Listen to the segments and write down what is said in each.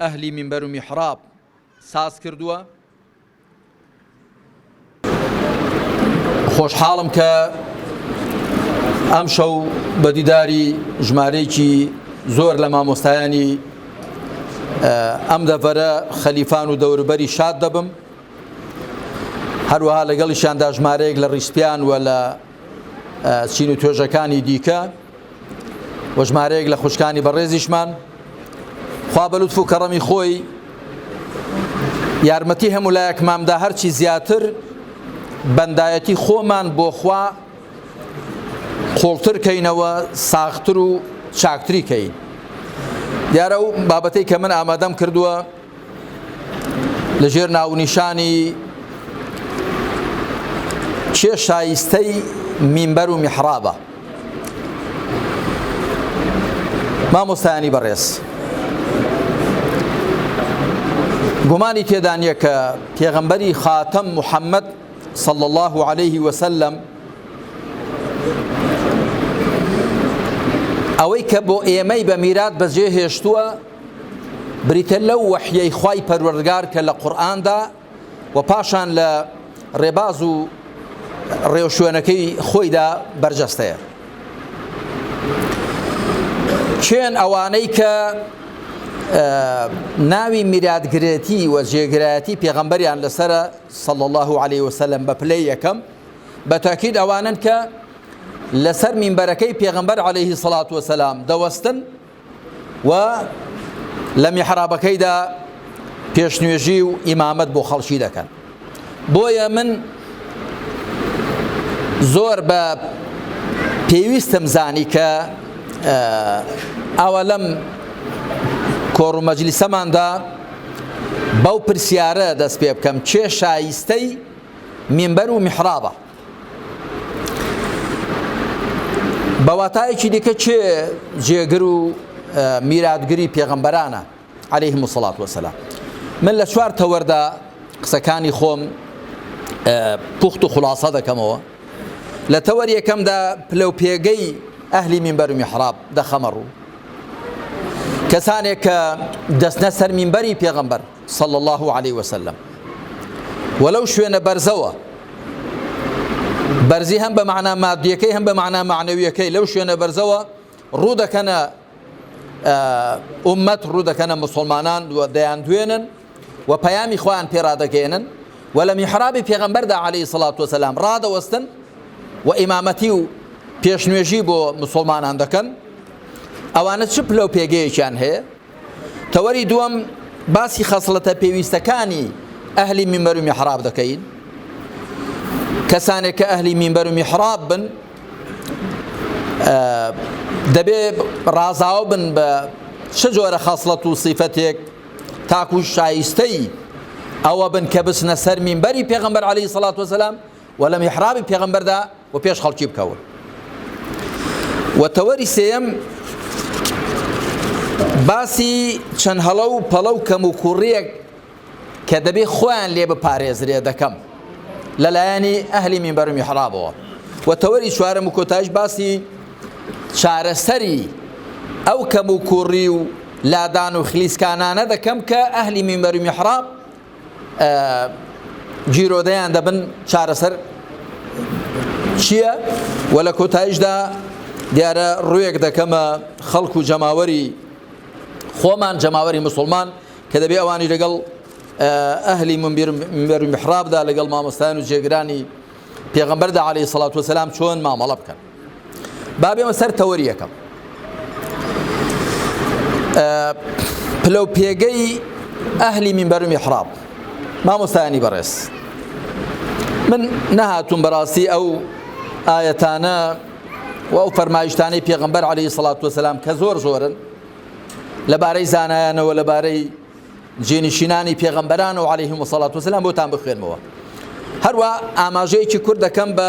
ئەهلی مینبەر و میحڕاب ساز کردووە. خۆشحاڵم کە ئەمشەو بە دیداری ژمارەیەکی زۆر لە مامۆستایانی ئەم دەڤەرە خەلیفان و دەوروبەری شاد دەبم هەروەها لەگەڵیشیاندا ژمارەیەک لە ڕیسپیان و لە چین و توێژەکانی دیکە وە ژمارەیەک لە خوشکانی بەڕێزیشمان خوا بەلوتف و کەڕەمی خۆی یارمەتی هەموو لایەکمامدا هەرچی زیاتر بەندایەتی خۆمان بۆخوا قوڵتر کەینەوە ساختر و چاکتری کەین دیارە و بابەتەی کە من ئامادەم کردووە لە ژێر ناونیشانی چێ شایستەی مینبەر و میحرابە مامۆستایانی بەڕێز گومانی تێدا نییە کە پێغەمبەری خاتەم محەممەد صلى الله عليه وسلم ئەوەی کە بۆ ئێمەی بە میرات بەجێ هێشتووە بریتیە لەو وەحیەی خوای پەروەردگار کە لە قورئاندا و پاشان لە ڕێباز و ڕێوشوێنەکەی خۆیدا بەرجەستەیە چێن ئەوانەی کە ناوی میراتگرێتی و جێگرایەتی پێغەمبەریان لەسرە سەڵ الله عليه وسلم بە پلەی یەکەم بە تاکیید ئەوانن کە لەسەر مینبەرەکەی پێغەمبەر عليهەیهی سەڵات وسلام دەوەستن و لە میحرابەکەیدا پێشنوێژی و ئیمامەت بۆ خەڵکی دەکەن بۆیە من زۆر بە پێویستم زانی کە ئاوا لەم کۆڕ و مەجلیسەماندا بەو پرسیارە دەست پێ بکەم چێ شایستەی مینبەر و میحرابە بە واتایەکی دیکە چێ جێگر و میراتگری پێغەمبەرانە عليه مسلات وسلام من لە چوار تەوەردا قسەکانی خۆم پوخت و خلاصە دەکەمەوە لە تەوەر یەکەمدا پلە و پێگەی ئەهلی مینبەر و میحراب دەخەمە ڕوو کەسانێک کە دەستنە سەر مینبەری پێغەمبەر صلی اللە علیە وسلم وە لەو شوێنە بەرزەوە بەرزی هەم بە معنا مادیەکەی هەم بە معنا معنەویەکەی لەو شوێنە بەرزەوە ڕوو دەکەنە ئومەت ڕوو دەکەنە مسلمانان و دەیان دوێنن و پەیامی خۆیان پێرادەگەێنن و لە میحرابی پێغەمبەردا عليهەی سڵات وسلام ڕادەوەستن و ئیمامەتی و پێشنوێژی بۆ مسلمانان دەکەن ئەوانە چ پلە و پێگەیەکیان هەیە تەوەری دووەم باسی خەسڵەتە پێویستەکانی ئەهلی میمبەر و میحراب دەکەین کەسانێک کە ئەهلی میمبەر و میحراب بن دەبێ ڕازاو بن بە چ جۆرە خەسڵەت و سیفەتێک تاکو شایستەی ئەوە بن کە بچنە سەر میمبەری پێغمبەر عليه سڵات وسلام و لە میحرابی پێغمبەردا و پێش خەڵکی بکەون و تەوەری سێیەم باسی چەند هەڵە و پەڵە و کەم و کوڕیەک کە دەبێ خۆیان لێ بپارێزرێ دەکەم لەلایەنی ئەهلی مینبەر و میحرابەوە و تەوەری چوارەم و کۆتایش باسی چارەسەری ئەو کەم و کوڕی و لادان و خلیسکانانە دەکەم کە ئەهلی مینبەر و میحراب گیرۆدەیان دەبن چارەسەر چییە و لە کۆتاییشدا دیارە ڕوێک دەکەمە خەڵک و جەماوەری خۆمان جەماوەری مسلمان کە دەبێ ئەوانی لەگەڵ ئەهلی منبر محرابدا لەگەڵ مامۆستایان و جێگرانی پێغمبەردا عليه سلاات وسلام چۆن مامەڵە بکەن با بێمە سەر تەوەری یەکەم پلە و پێگەی ئەهلی منبەر و میحراب مامۆستایانی بەڕێز من نەهاتوم بەڕاستی ئەو ئاەتانە و ئەو فەرمایشتانەی پێغمبەر عليه سڵات وسلام کە زۆر زۆرن لەبارەی زانایانەوە لەبارەی جێنشینانی پێغمبەران و عليهلەیهم وسڵات وسلام بۆتان بخوێنمەوە هەروە ئاماژەیەکی کورد دەکەم بە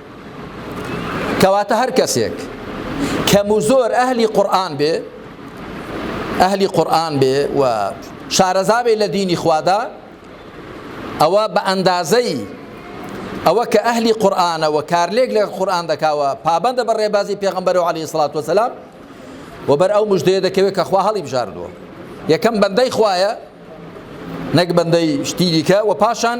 کەواتە هەر کەسێک کەم و زۆر ئەهلی قورآن بێ ئەهلی قورآن بێ و شارەزابێ لە دینی خوادا ئەوە بە ئەندازەی ئەوە کە ئەهلی قورآانەوە کارلێک لە قورآان دەکاوە پابندە بە ڕێبازی پێغمبەر و علی سلات وسلام و بەر ئەو مژدەیە دەکەوێت کە خوا هەڵی بژاردووە یەکەم بەندەی خوایە نەک بەندەی شتیریکە و پاشان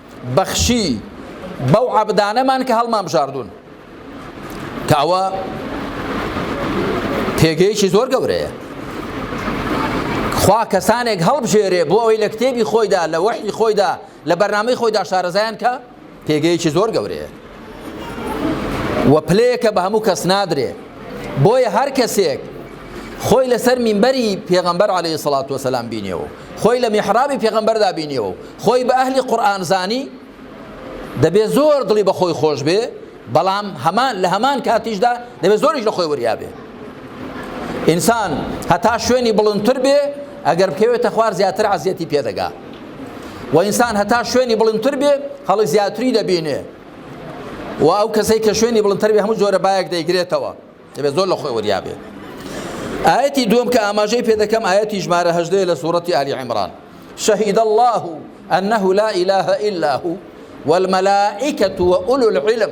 بەخشی بەو عەبدانەمان کە هەڵمانبژاردوون کە ئەوە پێگەیەکی زۆر گەورەیە خوا کەسانێک هەڵبژێرێ بۆ ئەوەی لە کتێبی خۆیدا لە وەحی خۆیدا لە بەرنامەی خۆیدا شارەزایان کە پێگەیەکی زۆر گەورەیە و پلەیەکە بە هەموو کەس نادرێ بۆیە هەر کەسێک خۆی لەسەر مینبەری پێغەمبەر عەلەیهی سەڵات وسەلام بینیەوە خۆی لە میحرابی پێغەمبەردا بینیەوە خۆی بە ئەهلی قورئان زانی دەبێ زۆر دڵی بە خۆی خۆش بێ بەڵام هەمان لە هەمان کاتیشدا دەبێ زۆریش لە خۆی وریا بێ ئینسان هەتا شوێنی بڵندتر بێ ئەگەر بکەوێتە خوار زیاتر عزیەتی پێدەگا و ئینسان هەتا شوێنی بڵندتر بێ هەڵی زیاتری دەبینێ و ئەو کەسەی کە شوێنی بڵندتر بێ هەموو جۆرە بایەک دەیگرێتەوە دەبێت زۆر لە خۆی وریا بێت ئاەتی دوم کە ئاماژەی پێ دەکەم ئاەتی ژمارە هەژدەیە لە سوورەتی ئالی عمران شهید الله أنه لا إله إلا هو والملائكة وأولو العلم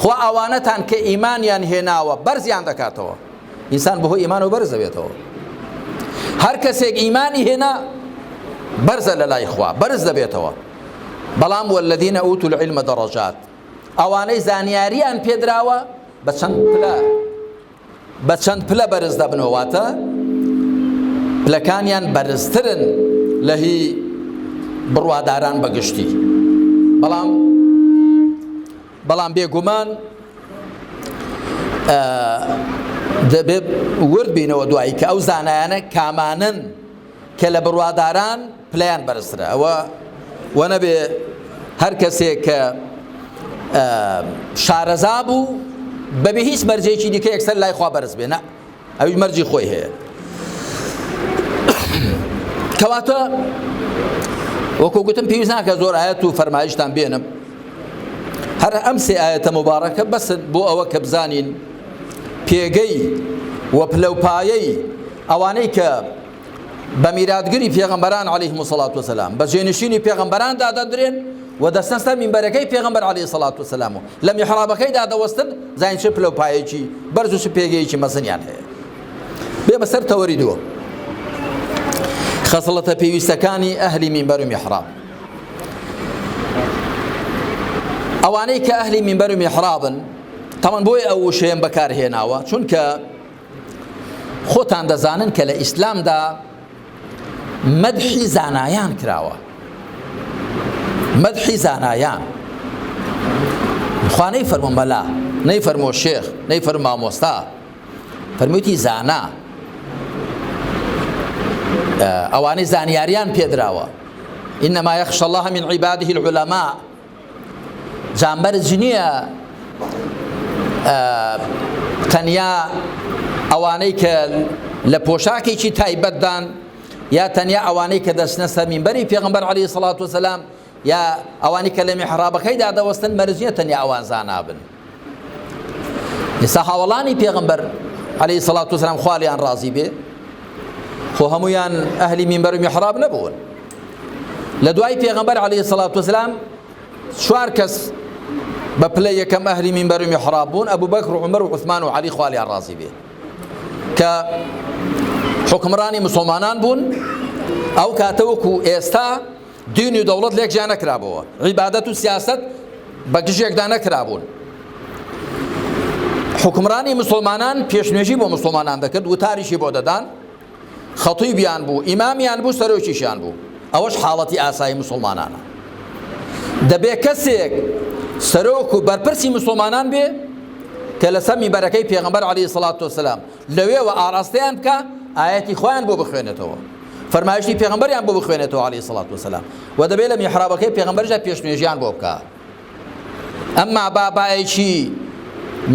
خوا ئەوانەتان کە ئیمانیان هێناوە بەرزیان دەکاتەوە ئینسان بەهۆی ئیمانەوە بەرز دەبێتەوە هەر کەسێک ئیمانی هێنا بەرزە لە لای خوا بەرز دەبێتەوە بەڵام والذین اوتوا العلم درجات ئەوانەی زانیاریان پێدراوە بە چەند پلە بە چەند پلە بەرز دەبنەوە واتە پلەکانیان بەرزترن لە هی بڕواداران بە گشتی بەڵام بەڵام بێگومان دەبێت ورد بینەوە دوایی کە ئەو زانایانە کامانن کە لە بڕواداران پلەیان بەرزترە ئەوە وەنەبێ هەر کەسێک کە شارەزا بوو بەبێ هیچ مەرجێکی دیکە یەکسەر لای خوا بەرز بێنە ئەوی مەرجی خۆی هەیە کەواتە وەکو گوتم پێویست ناکە زۆر ئاەت و فەرمایشتان بێنم هەر ئەم سێ ئاەتە مبارەکە بەسن بۆ ئەوە کە بزانین پێگەی وە پلەپایەی ئەوانەی کە بە میراتگری پێغەمبەران علیهم الصلاة والسلام بە جێنشینی پێغەمبەران دادەدرێن و دەستەن سەر منبەرەکەی پێغەمبەر علیه الصلاة والسلام و لە میحرابەکەی دادەوەستن زانین چ پلە و پایەکی بەرز و چ پێگەیەکی مەزنیان هەیە بێ بەسەر تەوەری دووە خەسڵەتە پێویستەکانی ئەهلی منبەر و میحراب ئەوانەی کە ئەهلی منبەر و میحرابن تەمەن بۆی ئەو وشەیەم بەکارهێناوە چونکە خۆتان دەزانن کە لە ئیسلامدا مەدحی زانایان کراوە مەدحی زانایان خوانەی فەرمۆ مەلا نەی فەرمۆ شێخ نەی فەر مامۆستا فەرموویتی زانا ئەوانەی زانیاریان پێدراوە إنما يخشى الله من عباده العلماء جا مەرج نییە تەنیا ئەوانەی کە لە پۆشاکێکی تایبەتدان یا تەنیا ئەوانەی کە دەچنە سەر مینبەری پێغمبەر علی سڵات وسلام یا ئەوانی کە لە میحرابەکەیدا دەوەستن مەرجە تەنیا ئەوان زانابن ئێستا هاوڵانی پێغمبەر عليه سڵات وسلام خالیان ڕازی بێ خۆ هەمویان ئەهلی مینبەر و میحراب نەبوون لە دوای پێغمبەر عليه سڵات وسلام چوار کەس بە پلە یەکەم ئەهلی مینبەر و میحراب بوون ئەبوو بەکر و عمر و عثمان و علی خالیان ڕازی بێ کە حکمڕانی مسلمانان بوون ئەو کاتەوەکو ئێستا دین و دەوڵەت لێک جیا نەکرابۆوە، عیبادەت و سیاسەت بە گژێکدا نەکرابوون. حوکمڕانی موسڵمانان پێشنوێژی بۆ موسڵمانان دەکرد، وتاریشی بۆ دەدان، خەتیبیان بوو، ئیمامیان بوو، سەرۆکیشیان بوو. ئەوەش حاڵەتی ئاسایی موسڵمانانە. دەبێ کەسێک سەرۆک و بەرپرسی موسڵمانان بێ کە لەسەر مینبەرەکەی پێغەمبەر عەلەیهی سڵات وسلام لەوێوە ئاڕاستەیان بکا، ئایەتی خوایان بۆ بخوێنێتەوە. فەرمایشتی پێغەمبەریان بۆ بخوێنێتەوە علیە سڵات وسلام و دەبێت لە میحرابەکەی پێغەمبەرجا پێشنوێژیان بۆ بکە ئەمما بابایەکی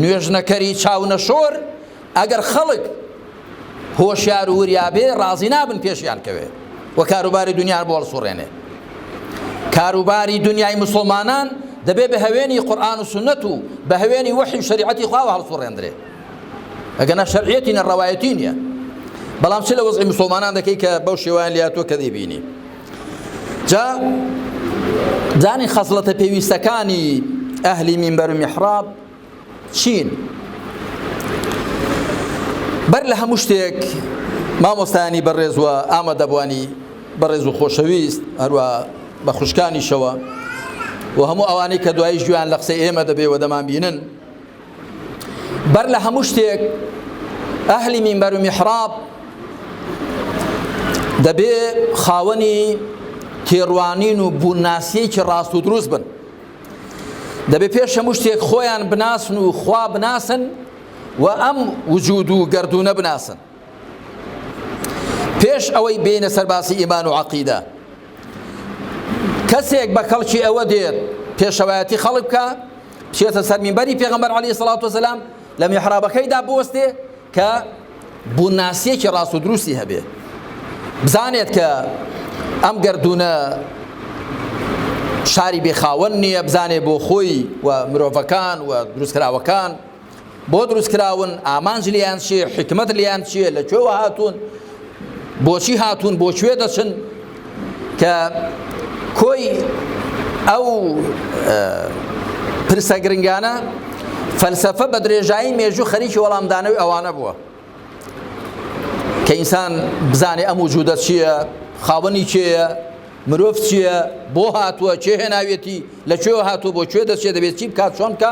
نوێژنەکەری چاونەشۆر ئەگەر خەڵک هۆشیار و وریابێ ڕازی نابن پێشیان کەوێ و کاروباری دنیان بۆ هەڵسوڕێنێ کاروباری دنیای مسلمانان دەبێ بە هەوێنی قورآن و سنت و بە هەوێنی وەحی و شریعەتی خواوە هەڵسوڕێندرێ ئەگەنا شەرعیەتی نە ڕەوایەتی نییە بەڵام چ لە وەزعی مسلمانان دەکەی کە بەو شێوان لاتوە کە دەیبینی جا زانی خەزڵەتە پێویستەکانی ئەهلی مینبەر و میحراب چین بەر لە هەموو شتێک مامۆستانی بەڕێزوە ئامە دەبوانی بەڕێز و خۆشەویست هەروە بە خوشکانیشەوە و هەموو ئەوانەی کە دوایی ژیان لە قسەی ئێمە دەبێ و دەمان بینن بەر لە هەموو شتێک ئەهلی مینبەر و میحراب دەبێ خاوەنی تێڕوانین و بوونناسیەکی ڕاست و دروست بن دەبێ پێش هەموو شتێک خۆیان بناسن و خوا بناسن و ئەم وجود و گردردونە بناسن پێش ئەوەی بێنە سەر باسی ئیمان و عەقیدە کەسێک بە کەڵکی ئەوە دێت پێشەوایەتی خەڵک بکە بچێتە سەر مینبەری پێغەمبەر عەلی سەڵات وسلام لە میحرابەکەیدا بوەستێ کە بووناسیەکی ڕاست و دروستی هەبێ بزانێت کە ئەم گردونە شاری بێخاوەن نییە بزانێ بۆ خۆی و مرۆڤەکان و دروستکراوەکان بۆ دروست کراون ئامانج لیان چیە حکمت لیان چیە لە کوێوە هاتوون بۆچی هاتوون بۆ کوێ دەچن کە کۆی ئەو پرسە گرنگانە فەلسفە بە درێژایی مێژوو خەریکی وەڵامدانەوەی ئەوانە بووە کە ئینسان بزانێ ئەم وجودە چییە خاوەنی چێە مرۆڤ چییە بۆ هاتووە چێ هێناوێتی لە کوێوە هاتوو بۆ کوێ دەچێت دەبێت چی بکات چۆن بکە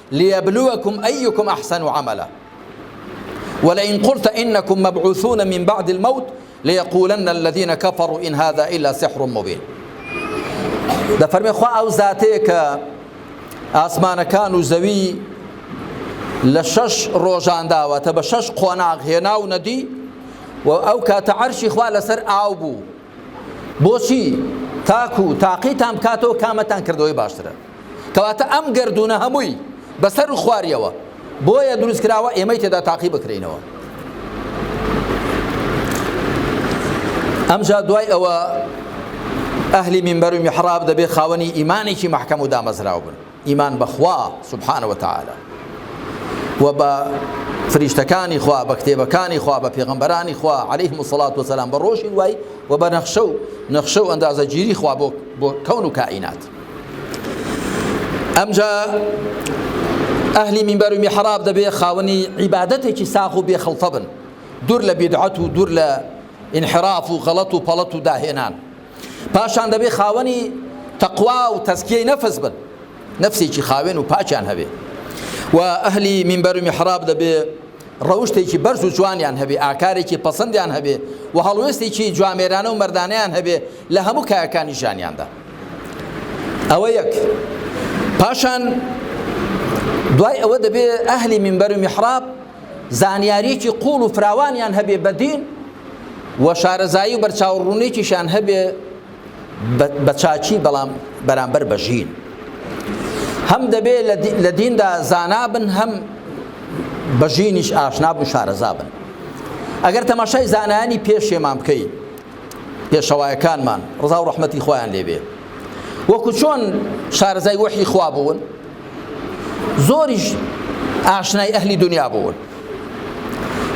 لیبلوکم ایکم احسن عملا ولئن قلت انکم مبعوثون من بعد الموت لیقولن الذین کفروا ان هذا الا سحر مبین دەفەرمێ خوا ئەو زاتەیە کە ئاسمانەکان و زەوی لە شەش ڕۆژان داوەتە بە شەش قۆناغ هێنا و نەدی و ئەو کاتە عەرشی خوا لەسەر ئاو بوو بۆچی؟ تاکو تاقیتان بکاتەوە کامەتان کردەوەی باشترە کەواتە ئەم گەردوونە هەمووی بەسەر و خواریەوە بۆیە دروست کراوە ئێمەی تێدا تاقی بکرینەوە ئەمجا دوای ئەوە ئەهلی منبەر و میحراب دەبێ خاوەنی ئیمانێکی مەحکەم و دامەزراو بن ئیمان بە خوا سبحانە وتعالی و بە فریشتەکانی خوا بە کتێبەکانی خوا بە پێغەمبەرانی خوا علیهم الصلاة والسلام بە ڕۆژی دوایی و بە نەخشە و نەخشە و ئەندازەگیری خوا بۆ بۆ کەون و کائینات ئەمجا ئەهلی مینبەر و میحراب دەبێ خاوەنی عیبادەتێکی ساغ و بێخڵتە بن دوور لە بیدعەت و دوور لە انحراف و غەڵەت و پەڵەت و داهێنان پاشان دەبێ خاوەنی تەقوا و تەزکیەی نەفس بن نەفسێکی خاوێن و پاکیان هەبێ و ئەهلی مینبەر و میحراب دەبێ ڕەوشتێکی بەرز و جوانیان هەبێ ئاکارێکی پەسەندیان هەبێ و هەڵوێستێکی جوامێرانە و مەردانیان هەبێ لە هەموو کایەکانی ژانیاندا ئەوە یەک پاشان دوای ئەوە دەبێ ئەهلی مینبەر و میحراب زانیاریەکی قوڵ و فراوانیان هەبێ بەدین و شارەزایی و بەرچاوڕوونیکیشان هەبێ بە چاکی بەڵام بەرامبەر بە ژین هەم دەبێ لە دیندا زانابن هەم بە ژینیش ئاشناب و شارەزابن ئەگەر تەماشای زانانی پێشێمان بکەیت پێشەوایەکانمان ڕزا و ڕحمەتی خۆیان لێبێ وەکو چۆن شارەزای وەحی خوا بوون زۆریش ئاشنای ئەهلی دنیا بوون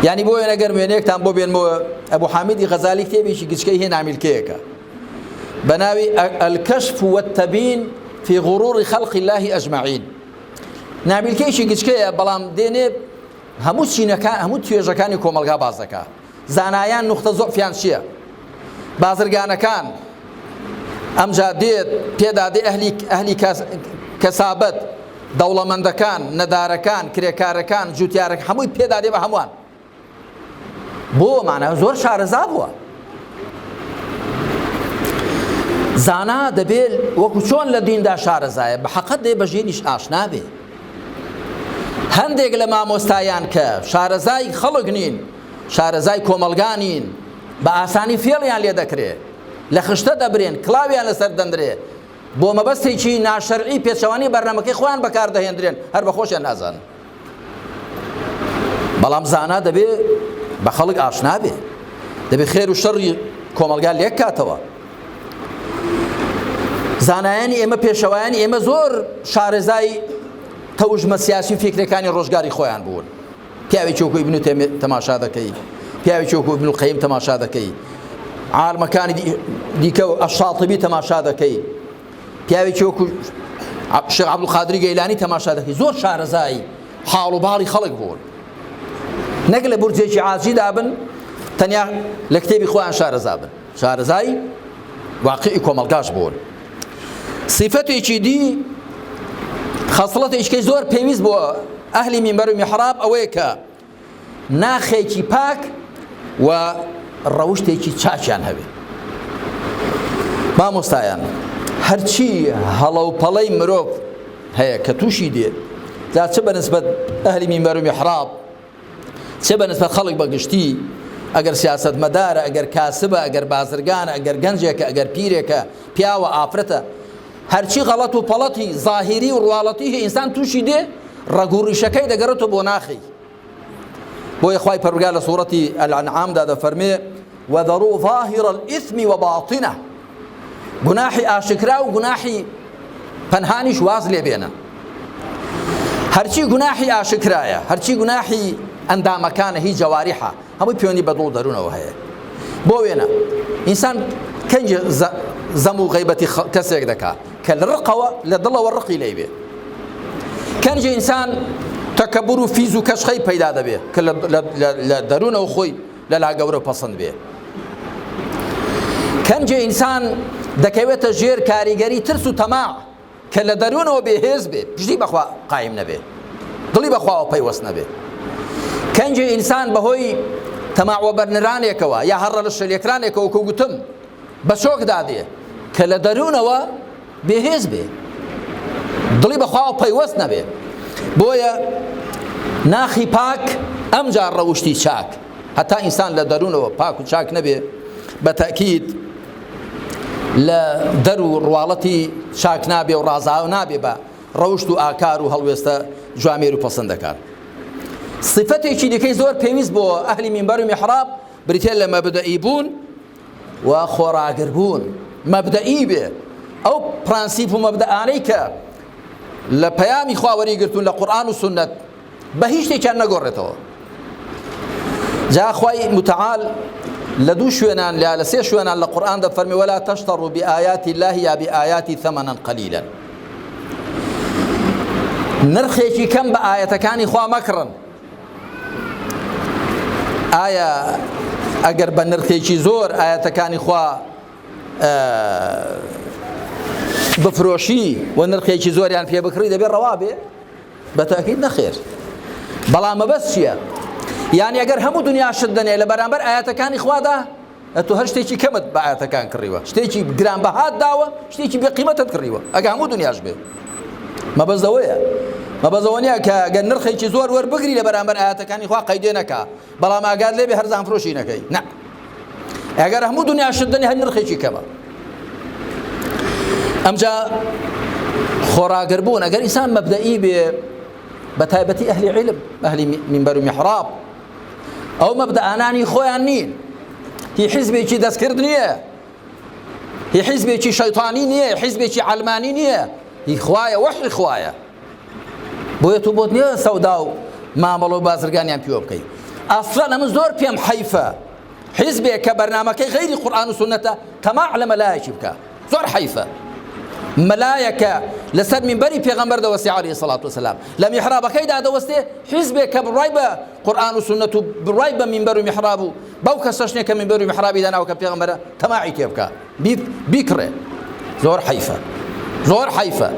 یعنی بۆ وێنە گەر وێنەیەکتان بۆ بێنمەوە ئەبوو حامیدی غەزالی کتێبێکی گچکەی هێ نامیلکەیەکە بە ناوی ئەلکەشف وەتەبین فی غڕوڕی خەڵقی اللهی ئەجمعین نامیلکەیەکی گچکەیە بەڵام دێنێ هەموو چینەکان هەموو توێژەکانی کۆمەلگا باز دەکات زانایان نوختە زۆعفیان چیە بازرگانەکان ئەمجا دێت پێدا دێ ئەهلی ئەهلی کەسابەت دەوڵەمەندەکان نەدارەکان کرێکارەکان جوتیارەکە هەمووی پێدا دێ بە هەمووان بۆ مانە زۆر شارەزا بووە زانا دەبێت وەکو چۆن لە دیندا شارەزایە بە حەقەت دێ بە ژینیش ئاشنابێ هەندێک لە مامۆستایان کە شارەزای خەڵک نین شارەزای کۆمەڵگا نین بە ئاسانی فێڵیان لێ دەکرێ لە خشتە دەبرێن کڵاویان لەسەر دەندرێ بۆ مەبەستێکی ناشەرعی پێچەوانی بەرنمەکەی خۆیان بەکاردەهێندرێن هەر بە خۆشیان نازان بەڵام زانا دەبێ بە خەڵک ئاشنابێ دەبێ خێر و شەڕی کۆمەلگا لێک کاتەوە زانایانی ئێمە پێشەوایانی ئێمە زۆر شارەزای تەوژمە سیاسی و فکرەکانی ڕۆژگاری خۆیان بوون پیاوی چۆکو ابن تێمێ تەماشا دەکەی پیاوی چۆکو ابن القیم تەماشا دەکەی عالمەکانی دیکە و ئەشاطبی تەماشا دەکەی پیاوی چۆکو شێخ عبدالقادری گەیلانی تەماشا دەکەی زۆر شارەزایی حاڵ و باڵی خەڵک بوون نەک لە بورجێکی عاجیدا بن تەنیا لە کتێبی خۆیان شارەزا بن شارەزای واقعی کۆمەڵگاش بوون. صیفەتێکی دی خەسڵەتێکی زۆر پێویست بۆ ئەهلی مینبەر و میحراب ئەوەیە کە ناخێکی پاک و ڕەوشتێکی چاکیان هەبێت مامۆستایان هەرچی هەڵە و پەڵەی مرۆڤ هەیە کە تووشی دێت جا چ بەنسبەت ئەهلی مینبەر و میحراب چ بە نسبەت خەڵک بە گشتی، ئەگەر سیاسەتمەدارە، ئەگەر کاسبە، ئەگەر بازرگانە، ئەگەر گەنجێکە، ئەگەر پیرێکە، پیاوە، ئافرەتە، هەرچی غەڵەت و پەڵەتی زاهیری و ڕواڵەتی هەیە ئینسان تووشی دێ، ڕەگ و ڕیشەکەی دەگەڕێتەوە بۆ ناخی. بۆیە خوای پەروەردگار لە سوڕەتی، الانعام، دا دەفەرموێ، وذروا ظاهر الاثم وباطنه، گوناحی ئاشکرا و گوناحی پەنهانیش واز لێ بێنە هەرچی گوناحی ئاشکرایە هەرچی گوناحی ئەندامەکانە هی جەواریحە هەمووی پێوەنی بە دڵ دەروونەوە هەیە بۆ وێنە ئینسان کەنج زەم و غیبەتی کەسێک دەکات کە لە ڕقەوە لە دڵەوە ڕقی لەی بێ کەنج ئینسان تەکەبور و فیز و کەشخەی پەیدا دەبێت کە لە دەروونەوە خۆی لەلا گەورەو پەسند بێ کەنجی ئینسان دەکەوێتە ژێر کاریگەری ترس و تەماع کە لە دەروونەوە بێهێز بێ پشتی بەخوا قایم نەبێ دڵی بەخواوە پەیوەست نەبێ کەنجی ئینسان بەهۆی تەماوە بەرنرانێکەوە یا هەڕە لە شەلێکرانێکەوە کە گوتم بە شۆک دادێ کە لە دەروونەوە بێهێز بێ دڵی بەخواوە پەیوەست نەبێ بۆیە ناخی پاک ئەمجا ڕەوشتی چاک هەتا ئینسان لە دەروونەوە پاک و چاک نەبێ بە تەکیید لە دەر و ڕواڵەتی چاک نابێ و ڕازاو نابێ بە ڕەوشت و ئاکار و هەڵوێستە جوامێر و پەسەند دەکات صفەتێکی دیکەی زۆر پێویست بۆ ئەهلی مینبەر و میحراب بریتێ لە مەبدەئی بوون و خۆڕاگربوون مەبدەئی بێ، ئەو پرەنسیپ و مەبدەئانەی کە لە پەیامی خوا وەریگرتوون لە قورئان و سوننەت بە هیچ شتێکیان نەگۆڕێتەوە. جا خوای متعال لە دوو شوێنان یا لە سێ شوێنان لە قورئان دەفەرمێ ولا تشتروا بآیات الله یا بآیاتی ثمنا قلیلا نرخێکی کەم بە ئایەتەکانی خوا مەکڕن ئایا ئەگەر بە نرخێکی زۆر ئاەتەکانی خوا بفرۆشی و نرخێکی زۆریان پێ بکڕی دەبێت ڕەوا بێ بە تاکیید نەخێر بەڵام مەبەست چییە؟ یان ئەگەر هەموو دنیا شت دەنێ لە بەرامبەر ئاەتەکانی خوادا ئەتۆ هەر شتێکی کەمت بە ئایەتەکان کڕیوە شتێکی گرانبەهات داوە شتێکی بێ قیمەتت کڕیوە ئەگە هەموو دنیاش بێ مەبەست ئەوەیە مەبەست ئەوە نییە کە گەر نرخێکی زۆر وەربگری لە بەرامبەر ئاەتەکانی خوا قەیدێ نەکا بەڵام ئاگات لێبێ هەرزان فرۆشی نەکەی نە ئەگەر هەموو دنیا شت دەنی هەر نرخێکی کەمە ئەمجا خۆراگر بوون ئەگەر ئیسان مەبدەئی بێ بە تایبەتی ئەهلی علم ئەهلی منبەر و میحراب ئەو مەبدەئانانی خۆیان نین هی حیزبێکی دەستکرد نییە هی حیزبێکی شەیتانی نییە حیزبێکی عەلمانی نییە هی خوایە وەحی خوایە بۆیە تۆ بۆت نییە سەودا و مامەڵە و بازرگانیان پیوە بکەیت ئەسڵەن ئەمە زۆر پێم حەیفە حیزبێک کە بەرنمەکەی غیری قورآن و سنەتە تەماع لە مەلایەکی بکە زۆر حەیفە مەلایەکە لەسەر منبەری پێغەمبەر دەوەستی علیه سڵات وسلام لە میحرابەکەی دادەوەستێ حیزبێک کە بڕای بە قورآن و سنت و بڕای بە منبەر و میحراب و بەو کەسەشنێ کە منبەر و میحرابی داناوە کە پێغەمبەرە تەماعی تێ بکە بیکڕێ زۆر حەیفە زۆر حەیفە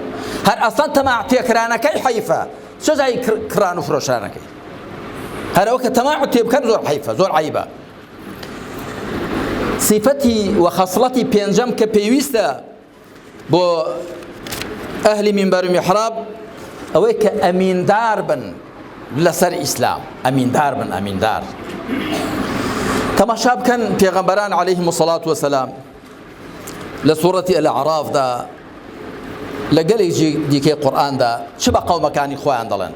هەر ئەسەن تەما تێکرانەکەی حەیفە سزای کران و فرۆشانەکەی هەرەوە کە تەما تێ بکەن زۆر حەیفە زۆر عیبە سیفەتی و خەسڵەتی پێنجەم کە پێویستە بۆ ئەهلی مینبەر و میحراب ئەوەی کە ئەمیندار بن لەسەر ئیسلام ئەمیندار بن ئەمیندار تەماشا بکەن پێغەمبەران عەلەیهیم سەڵات وەسەلام لە سوڕەتی الاعرافدا لە گەلێکی دیکەی قورئاندا چ بە قەومەکانی خۆیان دەڵێن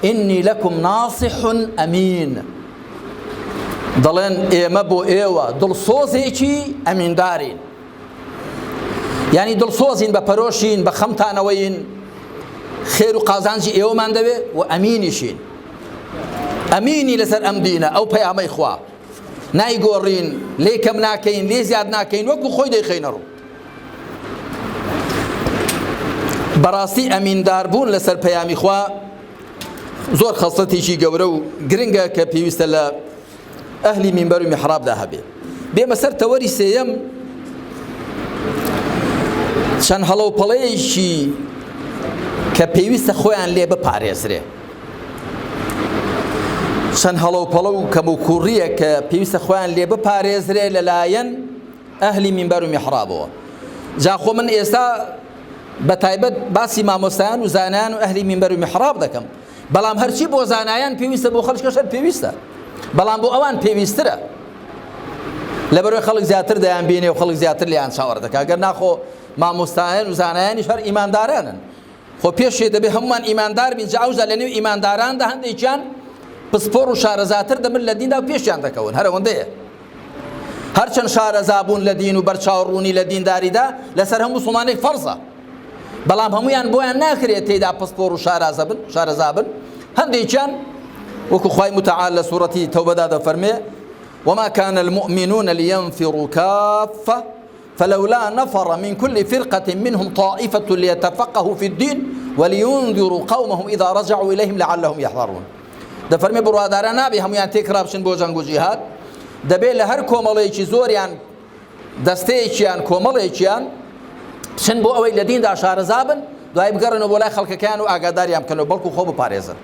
ئینی لەکم ناصح ئەمین دەڵێن ئێمە بۆ ئێوە دڵسۆزێکی ئەمیندارین ینی دڵسۆزین بە پەرۆشین بە خەمتانەوەین خێر و قازانجی ئێوەمان دەوێت و ئەمینیشین ئەمینی لەسەر ئەم دینە ئەو پەیامەی خوا نایگۆڕین، لێی کەم ناکەین، لێی زیاد ناکەین، وەکو خۆی دەیخەینەڕوو. بەڕاستی ئەمینداربوون لەسەر پەیامی خوا زۆر خەسڵەتێکی گەورە و گرنگە کە پێویستە لە ئەهلی مینبەر و میحرابدا هەبێ بێمە سەر تەوەری سێیەم چەند هەڵەوپەڵەیەکی کە پێویستە خۆیان لێ بپارێزرێ چەند هەڵەوپەڵە و کەموکوڕیە کە پێویستە خۆیان لێ بپارێزرێ لەلایەن ئەهلی مینبەر و میحرابەوە جا خۆ من ئێستا بە تایبەت باسی مامۆستایان و زانیان و ئەهلی مینبەر و میحراب دەکەم بەڵام هەرچی بۆ زانایان پێویستە بۆ خەڵکەشەر پێویستە بەڵام بۆ ئەوان پێویسترە لەبەرەوەی خەڵک زیاتر دەیان بینێ و خەڵک زیاتر لیان چاوەڕ دەکات گەر ناخۆ مامۆستایان و زانایانی شەر ئیماندارانن خۆ پێشێ دەبێ هەموومان ئیماندار بین جا ئەوجا لەنێو ئیمانداراندا هەندێکیان پسپۆڕ و شارەزاتر دەبن لە دیندا و پێشیان دەکەون هەر ئەوەندەیە هەرچەند شارەزا بوون لە دین و بەرچاوڕوونی لە دینداریدا لەسەر هەموو سڵمانێک فەرزە بەڵام هەمویان بۆیان ناکرێت تێدا پسپۆڕ و شارازە بن شارەزا بن هەندێکیان وەکو خی متعال لە سوورەتی تەوبەدا دەفەرمێ وما كان المؤمنون لينفروا كافة فلولا نفر من کل فرقە منهم طائفە لیتفقهوا فی الدین ولینذروا قومهم اذا رجعوا الیهم لعلهم یحذرون دەفەرمێ بڕواداران نابێ هەمویان تێکڕابچن بۆ جەنگ و جیهاد دەبێ لە هەر کۆمەڵێکی زۆریان دەستەیەکیان کۆمەڵێکیان بچن بۆ ئەوەی لە دیندا شارەزابن دوای بگەڕنەوە بۆ لای خەڵکەکەیان و ئاگاداریان بکەنەوە بەڵکو خۆ بپارێزن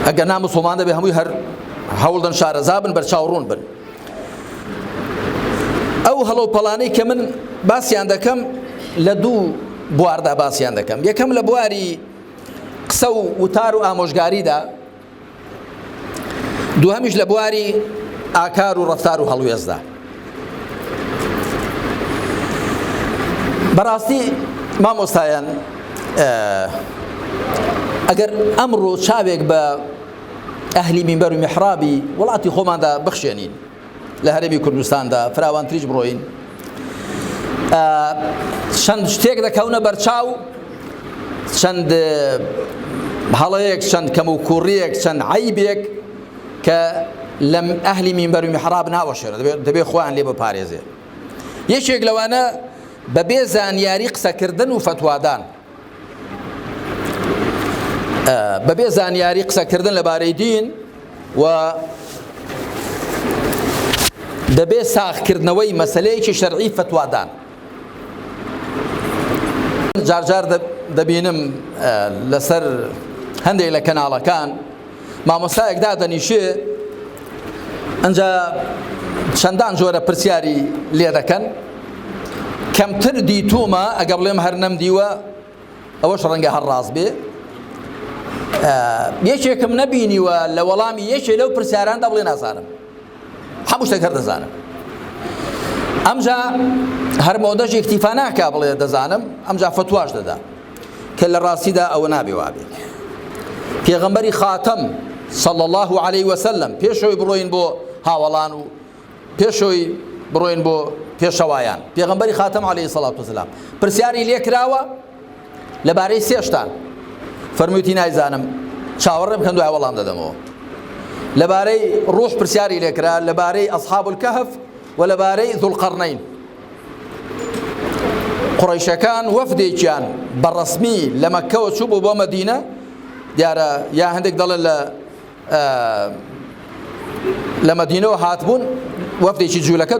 ئەگەر نا مسلمان دەبێ هەمووی هەر هەوڵدەن شارەزا بن بەرچاوڕون بن ئەو هەڵۆ پەڵانەی کە من باسییان دەکەم لە دوو بواردا باسییان دەکەم یەکەم لە بواری قسە و وتار و ئامۆژگاریدا دووهەمیش لە بواری ئاکار و ڕفتار و هەڵوێزدا بەڕاستی مامۆستایان ئەگەر ئەمڕۆ چاوێک بە ئەهلی مینبەر و میحرابی وڵاتی خۆماندا بخشێنین لە هەرێمی کوردستاندا فراوانتریش بڕۆین چەند شتێک دەکەونە بەرچاو چەند هەڵەیەک چەند کەم و کوڕیەک چەند عیبێک کە لەم ئەهلی مینبەر و میحراب ناوەشێنە دەبێ خۆیان لێ بپارێزێ یەکێک لەوانە بەبێ زانیاری قسەکردن و فتوادان بەبێ زانیاری قسەکردن لەبارەی دین و دەبێ ساخکردنەوەی مەسلەیەکی شەرعی فتوادان جارجار دەبینم لەسەر هەندێک لە کەناڵەکان مامۆستایەک دادەنیشێ ئەنجا چەندان جۆرە پرسیاری لێ دەکەن کەمتر دیتومە ئەگە بڵێم هەر نەم دیوە ئەوەش ڕەنگە هەر ڕاست بێ یەکێکم نەبینیوە لە وەڵامی یەکێ لەو پرسیاراندا بڵێ نازانم هەموو شتێک هەر دەزانم ئەمجا هەرمەودەژی اکتیفا ناکا بڵێ دەزانم ئەمجا فتواش دەدا کە لە ڕاستیدا ئەوە نابێ وابێت پێغەمبەری خاتەم صلى الله عليه وسلم پێشەوەی بڕۆین بۆ هاوەڵان و پێشەوەی بڕۆین بۆ پێشەوایان پێغەمبەری خاتەم عليه سلاات وسلام پرسیاری لێکراوە لەبارەی سێشتان فەرمووتی نایزانم چاوەڕێ بکەن دوای وەڵام دەدەمەوە لەبارەی ڕوح پرسیاری لێکرا لەبارەی ئەصحاب الكهف وە لەبارەی ذوالقەرنەین قڕیشەکان وەفدێکیان بە ڕسمی لە مەکەوە چوو بۆ بۆ مەدینە دیارە یا هەندێک دەڵێن لە لە مەدینەوە هاتبوون وەفدێکی جوولەکە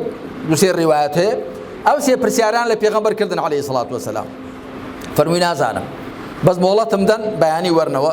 دوسێ ڕیواەت هەیە ئەو سێ پرسیاران لە پێغەمبەر کردن عليه سڵات وسلام فەرمووی نازانم بەس مۆڵەتم دەن بەیانی وەرنەوە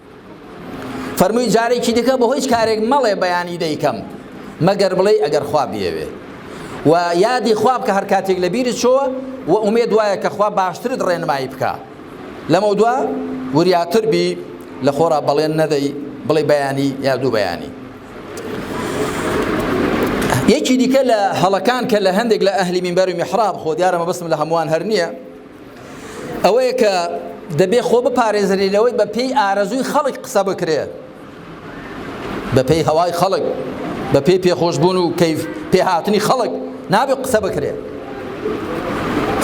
فەرمووی جارێکی دیکە بە هیچ کارێک مەڵێ بەیانی دەیکەم مەگەر بڵێی ئەگەر خوا بیەوێ و یادی خوا بکە هەر کاتێک لە بیرت چۆوە و ئومێد وایە کە خوا باشترت ڕێنمایی بکە لەمە دوا وریاتر بی لە خۆرا بەڵێن نەدەی بڵێ بەیانی یا دوو بەیانی یەکی دیکە لە هەڵەکان کە لە هەندێک لە ئەهلی مینبەر و میحراب خۆ دیارە مەبەستم لە هەمووان هەر نییە ئەوەیە کە دەبێ خۆ بپارێزرێ لەوەی بە پێی ئارەزووی خەڵک قسە بکرێ بە پێی هەوای خەڵک بە پێی پێخۆشببوون و کەیف پێهاتنی خەڵک نابێ قسە بکرێ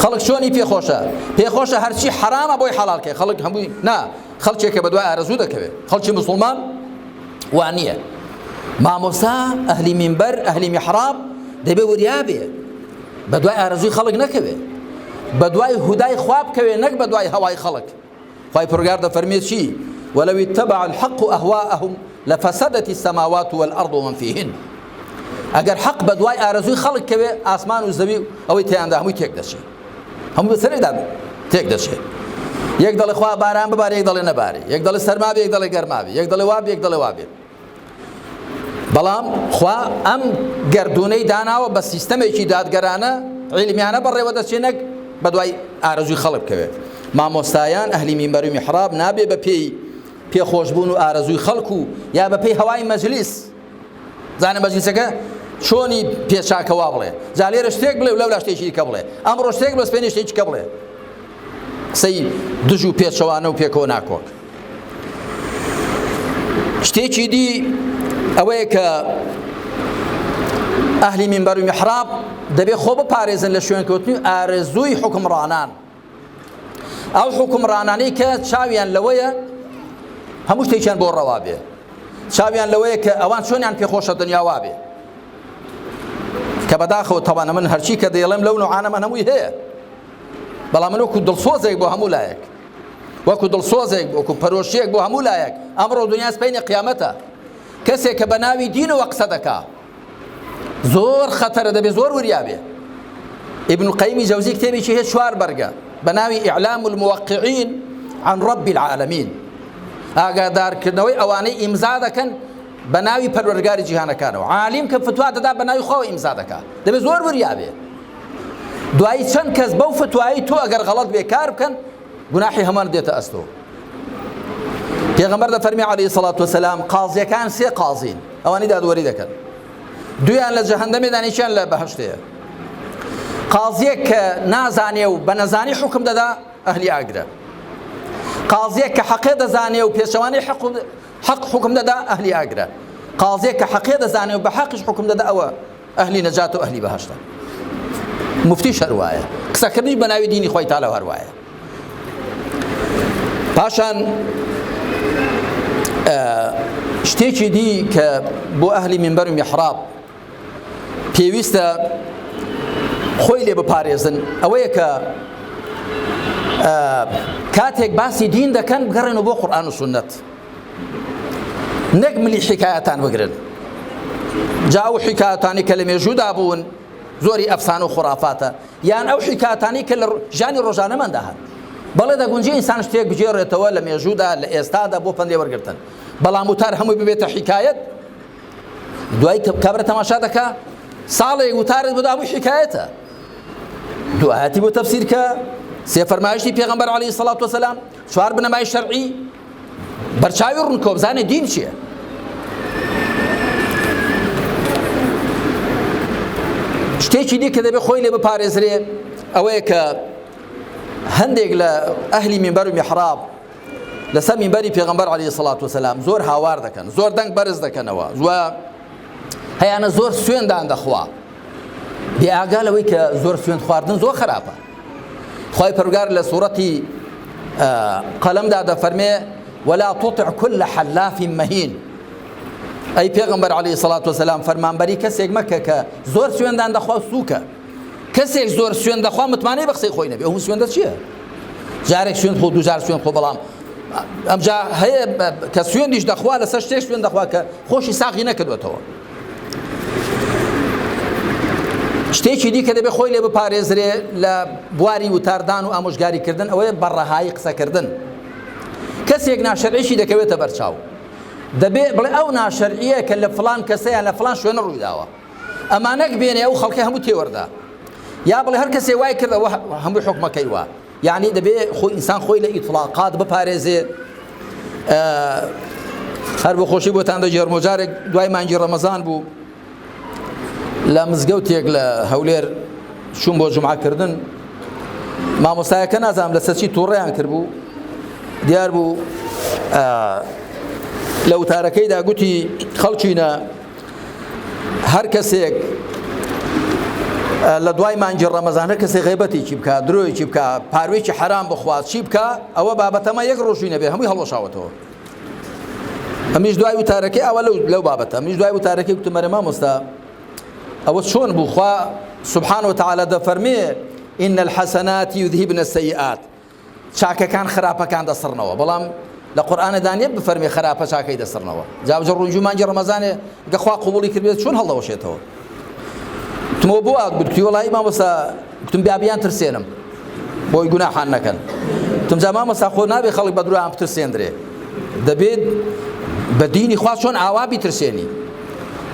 خەڵک چۆنی پێخۆشە پێخۆشە هەرچی حرامە بۆی حەڵالکە خەڵک هەمووی نا خەڵکێکە بە دوای ئارەزوو دەکەوێت خەڵکی مسلمان وانە مامۆسا ئەهلی مینبەر ئەهلی میحراب دەبێ وریابێ بە دوای ئارەزووی خەڵک نەکەوێ بە دوای هودای خوا بکەوێ نەک بە دوای هەوای خەڵک خی پرگار دەفەرمێ چی ولو اتبع الحق أهواءهم لفسدت السماوات والأرض ومن فيهن ئەگەر حەق بە دوای ئارەزووی خەڵک کەوێ ئاسمان و زەوی ئەوەی تیاندا هەمووی تێک دەچێت هەموو بەسەرێدا تێک دەچێت یەک دەڵێ خوا باران ببارێک دەڵێ نەبارێ یەک دەڵێ سەرماێک دەڵێ گەرماێ یەک دەڵێ وابێک دەڵێ وابێت بەڵام خوا ئەم گردونەی داناوە بە سیستەمێکی دادگەرانە عیلمیانە بەڕێوە دەچێت نەک بە دوای ئارەزوی خەڵک بکەوێت مامۆستایان ئەهلی مینبەر و میحراب نابێ بە پێی پێخۆشبوون و ئارەزوی خەڵک و یا بە پێی هەوای مەجلیس زانە مەجلیسەکە چۆنی پێچاکەوا بڵێ جا لێرە شتێک بڵێ و لەولا شتێکی کە بڵێ ئەمڕۆ شتێک بەسپێنی شتێکی کە بڵێ قسەی دژ و پێچەوانە و پێکەوە ناکۆک شتێکی دی ئەوەیە کە ئەهلی منبەر و محراب دەبێت خۆ بپارێزن لە شوێنکەوتنی ئارەزووی حکمڕانان ئەو حکمڕانانەی کە چاویان لەوەیە هەموو شتێکیان بۆ ڕەوا بێ چاویان لەوەیە کە ئەوان چۆنیان پێخۆشە دنیاوا بێ کە بەداخەوە تەوانە من هەرچی کە دەیڵێم لەو نوعاانە من هەمووی هەیە بەڵام من وەکو دڵسۆزێک بۆ هەموو لایەک وەکو دڵسۆزێک وەکو پەرۆشیەک بۆ هەموو لایەک ئەمڕۆ دنیا سپینە قیامەتە کەسێک کە بە ناوی دینەوە قسە دەکا زۆر خەتەرە دەبێ زۆر وریاێ ابن قەیمی جەوزی کتێبێکی هەیە چوار بەرگە بە ناوی ئیعلام الموقعین عن رب العالمین ئاگادارکردنەوەی ئەوانەی ئیمزا دەکەن بە ناوی پەروەرگاری جیهانەکانەوە عالیم کە فتوا دەدا بە ناوی خۆ ئیمزا دەکات دەبێت زۆر وریاێ دوایی چەند کەس بەو فتوایی تۆ ئەگەر غەڵەت بێ کار بکەن گوناحی هەمان دێتە ئەستۆ پێغەمبەر دەفەرمی عەلەیهی سەڵات وسەلام قازیەکان سێ قازین ئەوانی دادوەری دەکەن دویان لە جەهەندەمێ دانیشیان لە بەهشتەیە قازیەک کە نازانێ و بە نەزانی حکم دەدا ئەهلی ئاگرە قازیەک کە حەقێ دەزانێ و پێچەوانی حق حق حکم دەدا ئەهلی ئاگرە قازیەک کە حەقێ دەزانێ و بە حەقش حکم دەدا ئەوە ئەهلی نەجات و ئەهلی بەهەشتە موفتیش هەر وایە قسەکردنی بە ناوی دینی خۆی تالە هەر وایە پاشان شتێکی دی کە بۆ ئەهلی منبەر و میحراب پێویستە خۆی لێ بپارێزن ئەوەیە کە کاتێک باسی دین دەکەن بگەڕێنەوە بۆ قورآن و سنت نەک ملی حیکایەتان بگرن جا ئەو حیکایەتانی کە لە مێژوودا بوون زۆری ئەفسانە و خورافاتە یان ئەو حیکاتانی کە لە ژانی ڕۆژانەماندا هەن بەڵێ دەگونجی ئینسان شتێک بگێڕێتەوە لە مێژوودا لە ئێستادا بۆ پندێ وەرگتن بەڵام وتار هەمووی ببێتە حیکایەت دوای کابرا تەماشا دەکا ساڵێک وتارت بدا هەمووی حیکایەتە دوایەتی بۆ تەفسیرکە سێ فەرمایشتی پێغمبەر علی سڵات وسلام چوار بنەمای شەرعی بەرچاوی ڕوون کۆبزانێ دین چییە شتێکی دی کە دەبێت خۆی لێ بپارێزرێ ئەوەیە کە هەندێک لە ئەهلی میمبەر و میحراب لەسەر میمبەری پێغمبەر علی سڵات وسلام زۆر هاوار دەکەن زۆر دەنگ بەرز دەکەنەوە زوە هەیانە زۆر سوێندان دەخوا بێئگا لەوەی کە زۆر سوێن خواردن زۆر خراپە خوای پەرگار لە سوورەتی قەلەمدا دەفەرمێ ولا تطع كل حلاف مهين ئەی پێغمبەر علی سڵات وسلام فەرمانبەری کەسێک مەکە کە زۆر سوێندان دەخوا سووکە کەسێک زۆر سوێن دەخوا متمانەی بە قسەی خۆی نەبێ ئەو سوێندە چییە جارێک سوێن خۆ دوجار سوێن خۆ بەڵام ئەمجا هەیە کە سوێندیش دەخوا لەسەر شتێک سوێن دەخوا کە خۆشی ساغی نەکردوێتەوە شتێکی دیکە دەبێت خۆی لێ بپارێزرێ لە بواری وتاردان و ئامۆژگاریکردن ئەوەیە بە ڕەهایی قسەکردن کەسێک ناشەرعیشی دەکەوێتە بەرچاو دەبێ بڵێ ئەو ناشەرعیە کە لە فلان کەسەیە لە فلان شوێنە ڕوویداوە ئەمانەک بێنێ ئەو خەڵکی هەموو تێوەردا یا بڵێ هەر کەسێ وای کردەوە هەموو حکومەکەی وە یەعنی دەبێ خۆی ئینسان خۆی لە ئیتڵاقات بپارێزێ هەر بۆ خۆشی بۆتان دەگێڕمەوە جارێک دوای مانگی ڕەمەزان بوو لە مزگەوتێک لە هەولێر چوون بۆ جمعکردن مامۆستایەکە نازانام لە سەچی تووڕیان کرد بوو دیار بوو لە وتارەکەیدا گوتی خەڵچینە هەر کەسێک لە دوای مانجی ڕەمەزان هەر کەسێک غیبەتێکی بکە درۆیەکی بکە پاروێکی حەرام بخوات چی بکە ئەوە بابەتەمە یەک ڕۆژووی نەبێ هەمووی هەڵۆشاوەتەوە ئەمیش دوای وتارەکەی ئەوە لەو لەو بابەتە ئەمیش دوای وتارەکەی وتمەرە مامۆستا ئەوە چۆن بوو خوا سبحان و تعالی دەفەرمێ إن الحسنات يذهبن السيئات چاکەکان خراپەکان دەسڕنەوە بەڵام لە قورئانە دا نیە بفەرمێ خراپە چاکەی دەسڕنەوە جا بجە ڕونجو مانگی ڕەمەزانێ گە خوا قبوڵی کردبێت چۆن هەڵدەوەشێتەوە تمۆ بۆ ئاک بکتی وڵی مامۆسا گوتم بیابیان ترسێنم بۆی گوناحان نەکەن تم جا مامۆسا خۆ نابێ خەڵک بە درۆیان بترسێندرێ دەبێت بە دینی خوا چۆن ئاوا بیترسێنی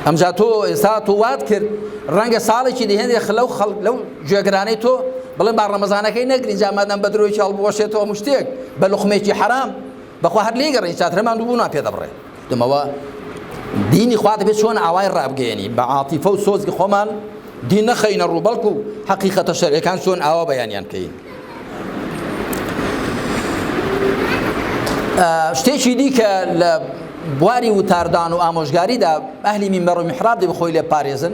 ئەمجا تۆ ئێستا تۆ وات کرد ڕەنگە ساڵێکی دهێنێ خلەو خەڵک لەو گوێگرانی تۆ بڵێن با ڕەمەزانەکەی نەگرین جا مادام بە درۆیەکی هەڵبوەشێتەوە هەموو شتێک بە لوقمەیەکی حەرام بەخوا هەر لێی گەڕێین چاترە ماندووبوونمان پێ دەبڕێ دمەوە دینی خوا دەبێت چۆن ئاوای ڕابگەیەنی بە عاتیفە و سۆزی خۆمان دین نەخەینە ڕوو بەڵکو حەقیقەتە شەرعەکان چۆن ئاوا بەیانیان کەین شتێکی دیکە لە بواری وتاردان و ئامۆژگاریدا ئەهلی میمبەر و میحراب دەبی خۆی لێ پارێزن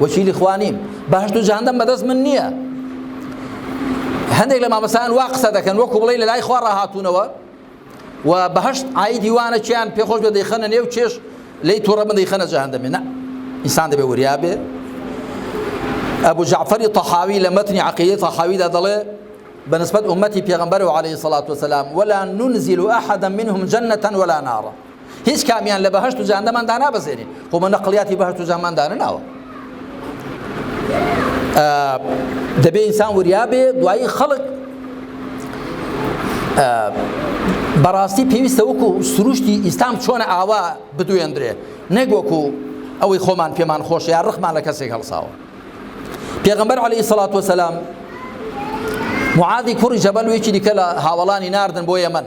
وەکیلی خوا نیم بەهشت و جەهەندەم بەدەست من نییە هەندێک لە مامەسان وا قسە دەکەن وەکو بڵێ لە لای خوا ڕاهاتوونەوە و بەهشت ئایدی وانە چیان پێخۆش بە دەیخەنە نێو چێش لی تووڕە من دەیخەنە جەهەندەمێ نە ئینسان دەبێ وریا بێ ئەبوو جعفەری تەحاوی لە مەتنی عقیدی تەحاویدا دەڵێ بنسبت أمتي پیغمبر عليه الصلاة والسلام ولا ننزل أحدا منهم جنة ولا نارا هیچ کامیان لە بەهشت و جاندەمان دانابەزێنین خۆ بە نەقلیاتی بەهشت و جامان دانەناوە دەبێ ئینسان وریا بێ دوایی خەڵک بەڕاستی پێویستە وەکو سروشتی ئیسلام چۆنە ئاوا بدوێندرێ نەک وەکو ئەوەی خۆمان پێمان خۆش یا ڕخمان لە کەسێک هەڵساوە پێغمبەر عليه سلاات وسلام معادی کوڕی جەبەل وێکی دیکە لە هاوڵانی ناردن بۆ یەمەن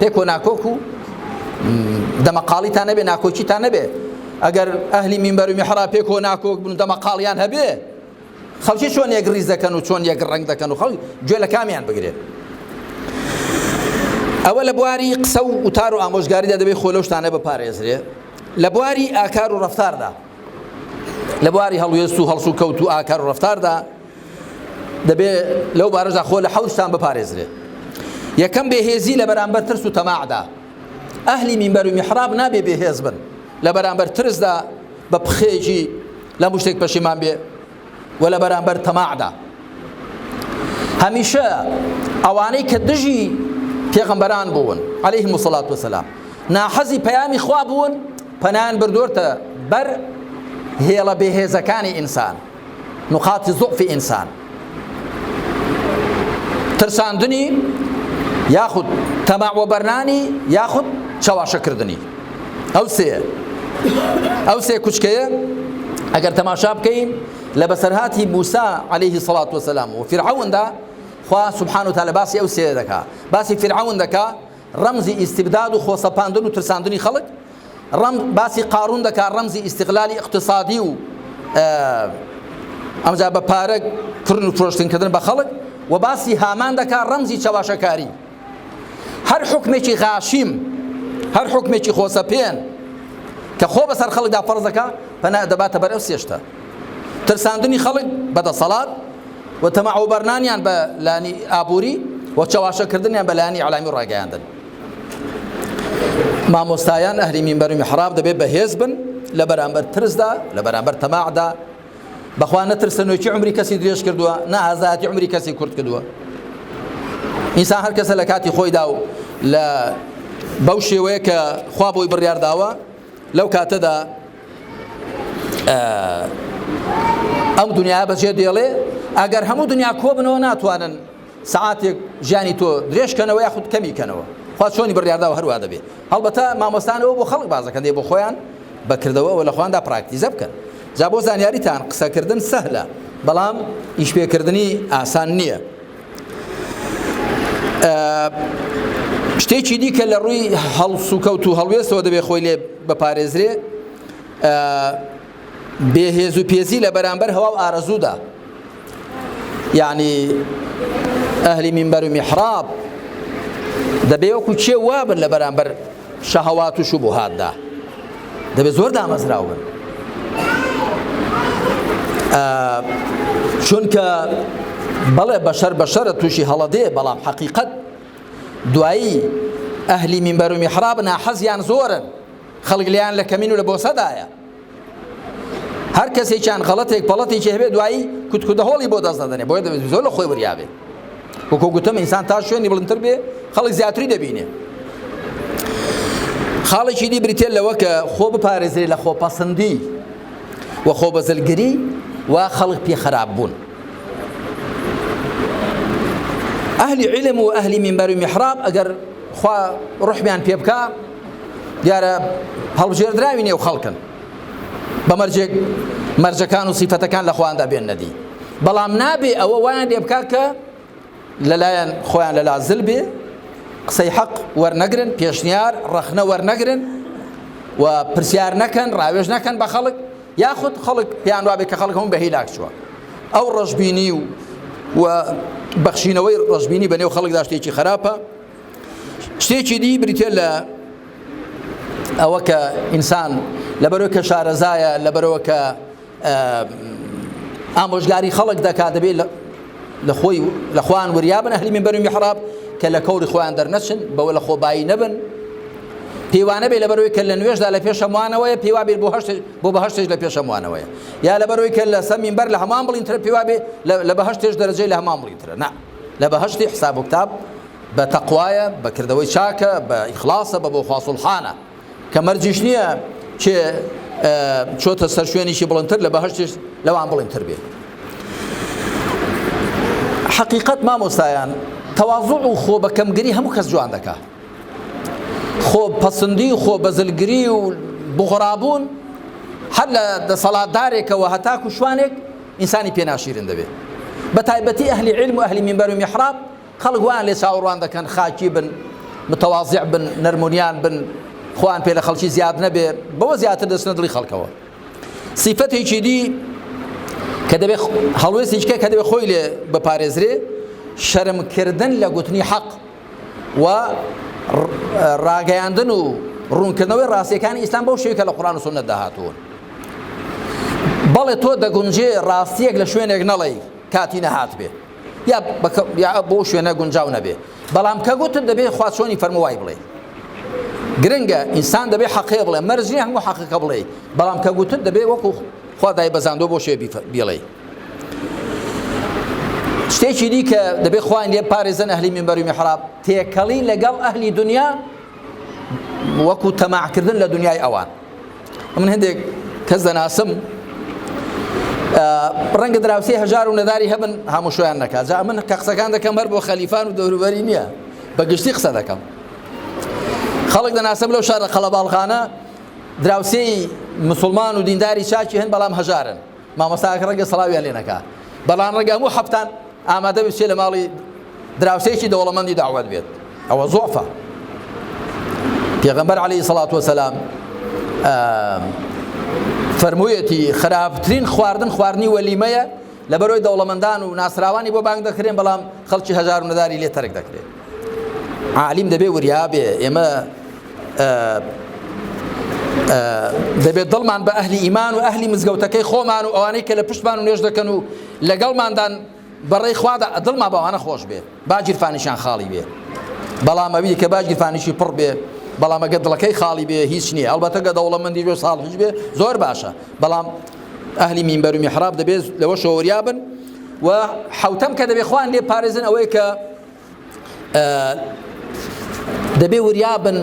پێک و ناکۆک و دەمەقاڵیتان نەبێ ناکۆکیتان نەبێ ئەگەر ئەهلی مینبەر و میحرا پێک و ناکۆک بن دەمەقاڵیان هەبێ خەڵکی چۆن یەک ڕیز دەکەن و چۆن یەک ڕنگ دەکەن و خەڵک گوێ لە کامیان بگرێت ئەوە لە بواری قسە و وتار و ئامۆژگاریدا دەبێت خۆ لەو شتانە بپارێزرێ لە بواری ئاکار و ڕفتاردا لە بواری هەڵوێست و هەڵسو کەوت و ئاکار و ڕفتاردا دەبێ لەو بارەشدا خۆ لە حەوت شتان بپارێزرێت یەکەم بێهێزی لە بەرامبەر ترس و تەماعدا ئەهلی مینبەر و میحراب نابێ بێهێز بن لە بەرامبەر ترسدا بە پخێژی لە مشتێک پەشیمان بێ و لە بەرامبەر تەماعدا هەمیشە ئەوانەی کە دژی پێغەمبەران بوون عليه مسلات وسلام ناحەزی پەیامی خوا بوون پەنان بردوۆرتە بەر هێڵە بێهێزەکانی ئینسان نقاط ضعف انسان ترساندنی یاخود تەماع وەبەرنانی یاخود چاواشەکردنی ئەو سێ ئەو سێ کوچکەیە ئەگەر تەماشا بکەین لە بەسەرهاتی موسا عليهەیهی سەڵات وسلام و فرعوندا خوا سبحان و تالە باسی ئەو سێ دەکا باسی فرعون دەکا ڕەمزی ئیسیبداد و خۆسەپاندن و ترساندنی خەڵک ڕەم باسی قارون دەکا ڕەمزی ئیستغلالی ئیقتسادی و ئەمجا بە پارە کڕن و فرۆشتن کردن بە خەڵک و باسی هامان دەکا ڕەمزی چەواشەکاری هەر حکمێکی غاشیم هەر حکمێکی خۆسەپێن کە خۆ بەسەر خەڵکدا فەرز دەکا پەنا دەباتە بەر ئەو سێشتە ترساندنی خەڵک بە دەسەڵات و تەماعوبەرنانیان بە لانی ئابووری و چەواشەکردنیان بە لانی علامی ڕاگەیاندن مامۆستایان ئەهلی مینبەر و محراب دەبێت بەهێز بن لە بەرامبەر ترسدا لە بەرامبەر تەماعدا بەخوا نەترسە نوێکی عمری کەسی درێژ کردووە نە ئازاتی عمری کەسی کورت کردووە ئینسان هەر کەسە لە کاتی خۆیدا و لە بەو شێوەیە کە خوا بۆی بڕیارداوە لەو کاتەدا ئەم دنیا بەجێ دێڵێ ئەگەر هەموو دنیا کۆ بنەوە ناتوانن سەعاتێک ژیانی تۆ درێژ کەنەوە یاخود کەمی کەنەوە خوا چۆنی بڕیارداوە هەروا دەبێت هەڵبەتە مامۆستان ئەوە بۆ خەڵک بازەکەن دێ بۆ خۆیان بەکردەوەەوە لە خواندا پراکتیزە بکەن جا بۆ زانیاریتان قسەکردن سەهلە بەڵام ئیشپێکردنی ئاسان نییە شتێکی دیکە لە ڕووی هەڵسوکەوت و هەڵوێستەوە دەبێت خۆی لێ بەپارێزرێ بێ هێز و پێزی لە بەرامبەر هەوا و ئارەزوودا یعنی ئەهلی منبەر و میحراب دەبێ وەکو چێ وابن لە بەرامبەر شەهەوات و شوبهاتدا دەبێ زۆر دامەزراو بن چونکە بەڵێ بەشەر بەشەرە تووشی هەڵەدێ بەڵام حەقیقەت دوایی ئەهلی منبەر و میحراب ناحەزیان زۆرن خەڵک لیان لە کەمین و لە بۆسەدایە هەر کەسێکیان غەڵەتێک پەڵەتێکی هەبێ دوایی کوتکودە هۆڵی بۆ دەست دەدەنێ بۆیە دەبێت زۆر لە خۆی وریاێ وەکو گوتم ئینسان تا شوێنی بڵندتر بێ خەڵک زیاتری دەبینێ خاڵێکی دی بریتێت لەوە کە خۆ بپارێزرێ لە خۆپەسەندی و خۆ بەزلگری و خەڵک پێ خراپ بوون ئەهلی علم و ئەهلی منبەر و میحراب ئەگەر خوا ڕحمیان پێ بکە دیارە هەڵبژێردراوی نێو خەڵکن بە مەرجێک مەرجەکان و سیفەتەکان لە خواندا بێن نەدی بەڵام نابێ ئەوە وایان لێ بکات کە لەلایەن خۆیان لە لازل بێ قسەی حەق وەرنەگرن پێشنیار ڕەخنە وەرنەگرن و پرسیار نەکەن ڕاوێژ نەکەن بە خەڵک یاخود خەڵک پێیان وابێ کە خەڵک هەم بە هیلاک چووە ئەو ڕژبینی و و بەخشینەوەی ڕژبینی بە نێو خەڵک داشتێکی خراپە شتێکی دی بریتە لە ئەوە کە ئینسان لەبەرەوە کە شارەزایە لەبەرەوە کە ئامۆژگاری خەڵک دەکات دەبێت لە خۆی لە خوان وریا بن هەلی من بەرمی محراب کە لە کەوری خۆیان دەرنەچن بەوە لە خۆبایی نەبن پێوانە بێ لەبەرەوەی کە لە نوێشدا لە پێشەموانەوەی پێوا بێت بۆ هەشت بۆ بە هەشتێک لە پێشەموانەوەی یا لەبەرەوەی کە لە سەمین بەر لە هەمان بڵینترە پێوا بێ لە بە هەشتێش دەرەجەی لە هەمان بڵینترە نا لە بەهەشتی حساب و کتاب بە تەقوایە بە کردەوەی چاکە بە ئیخڵاسە بە بۆ خوا سوڵحانە کە مەرجیش نییە کێ چۆتە سەر شوێنیشی بڵندتر لە بەهشتش لەوان بڵندتر بێت حقیقت مامۆستایان تەوازوع و خۆ بە کەمگری هەموو کەس جوان دەکا خۆ پەسەندی و خۆ بەزلگری و بغڕابوون هەر لە دەسەڵاتدارێکەوە هەتاکو شوانێک ئینسانی پێ ناشیرن دەبێ بە تایبەتی ئەهلی عیلم و ئەهلی مینبەر و میحراب خەڵک وایان لێ چاوەڕوان دەکەن خاکی بن متواضع بن نەرمونیان بن خۆیان پێ لە خەڵکی زیاد نەبێ بەوە زیاتر دەچنە دڵی خەڵکەوە سیفەتێکی دی کە دەبێ هەڵوێستێکە کە دەبێ خۆی لێ بپارێزرێ شەرمکردن لە گوتنی حەق و ڕاگەیاندن و ڕوونکردنەوەی ڕاستیەکانی ئیسلام بەو شێوی کە لە قڕان و سنت داهاتوون بەڵێ تۆ دەگونجێ ڕاستیەک لە شوێنێک نەڵێی کاتی نەهات بێ یا یا بۆ شوێنە گونجاو نەبێ بەڵام کە گوتت دەبێ خوا چۆنی فەرمووای بڵێ گرنگە ئینسان دەبێ حەقێ بڵێ مەرجنی هەموو حەقەکە بڵێ بەڵام کە گوتت دەبێ وەکو خوا دایبەزاندوە بۆ شێ بیڵێی شتێکی دی کە دەبێت خوان لێ پارێزن ئەهلی منبەری محراب تێکەڵی لەگەڵ ئەهلی دنیا وەکو تەماعکردن لە دنیای ئەوان من هەندێک کەس دەناسم ڕەنگە دراوسی هەژار و نەداری هەبن هەمووشیان نەکات جا من کە قسەکان دەکەم هەر بۆ خەلیفان و دەوروبەری نییە بە گشتی قسە دەکەم خەڵک دەناسم لەو شارە قەڵەباڵغانە دراوسێی مسوڵمان و دینداری چاکی هەن بەڵام هەژارن مامۆستاکە ڕەنگە سەڵاویان لێ نەکا بەڵام ڕەنگە هەموو حەفتان ئامادە بچێت لە ماڵی دراوسێکی دەوڵەمەندی داوەت بێت ئەوە زۆفە پێغەمبەر علی سەڵات وسلام فەرموویەتی خراپترین خواردن خواردنی وەلیمەیە لە بەرۆی دەوڵەمەندان و ناسراوانی بۆ بانگ دەکرێن بەڵام خەڵکی هەزار و نەداری لێ تەرک دەکرێت عالیم دەبێ وریا بێ ئێمە دەبێت دڵمان بە ئەهلی ئیمان و ئەهلی مزگەوتەکەی خۆمان و ئەوانەی کە لە پشتمان و نوێژ دەکەن و لەگەڵماندان بەڕێی خوادا دڵما باوانە خۆش بێ باگیرفانیشان خاڵی بێ بەڵام ئەوی کە باگیرفانیشی پڕ بێ بەڵام ئەگە دڵەکەی خاڵی بێ هیچ نییە ئەڵبەتەگە دەوڵەمەندی بێ ساڵ هیچ بێ زۆر باشە بەڵام ئەهلی مینبەر و میحراب دەبێت لەوە شۆریابن و حوتەم کە دەبێ خوان لێ پارێزن ئەوەیە کە دەبێ وریابن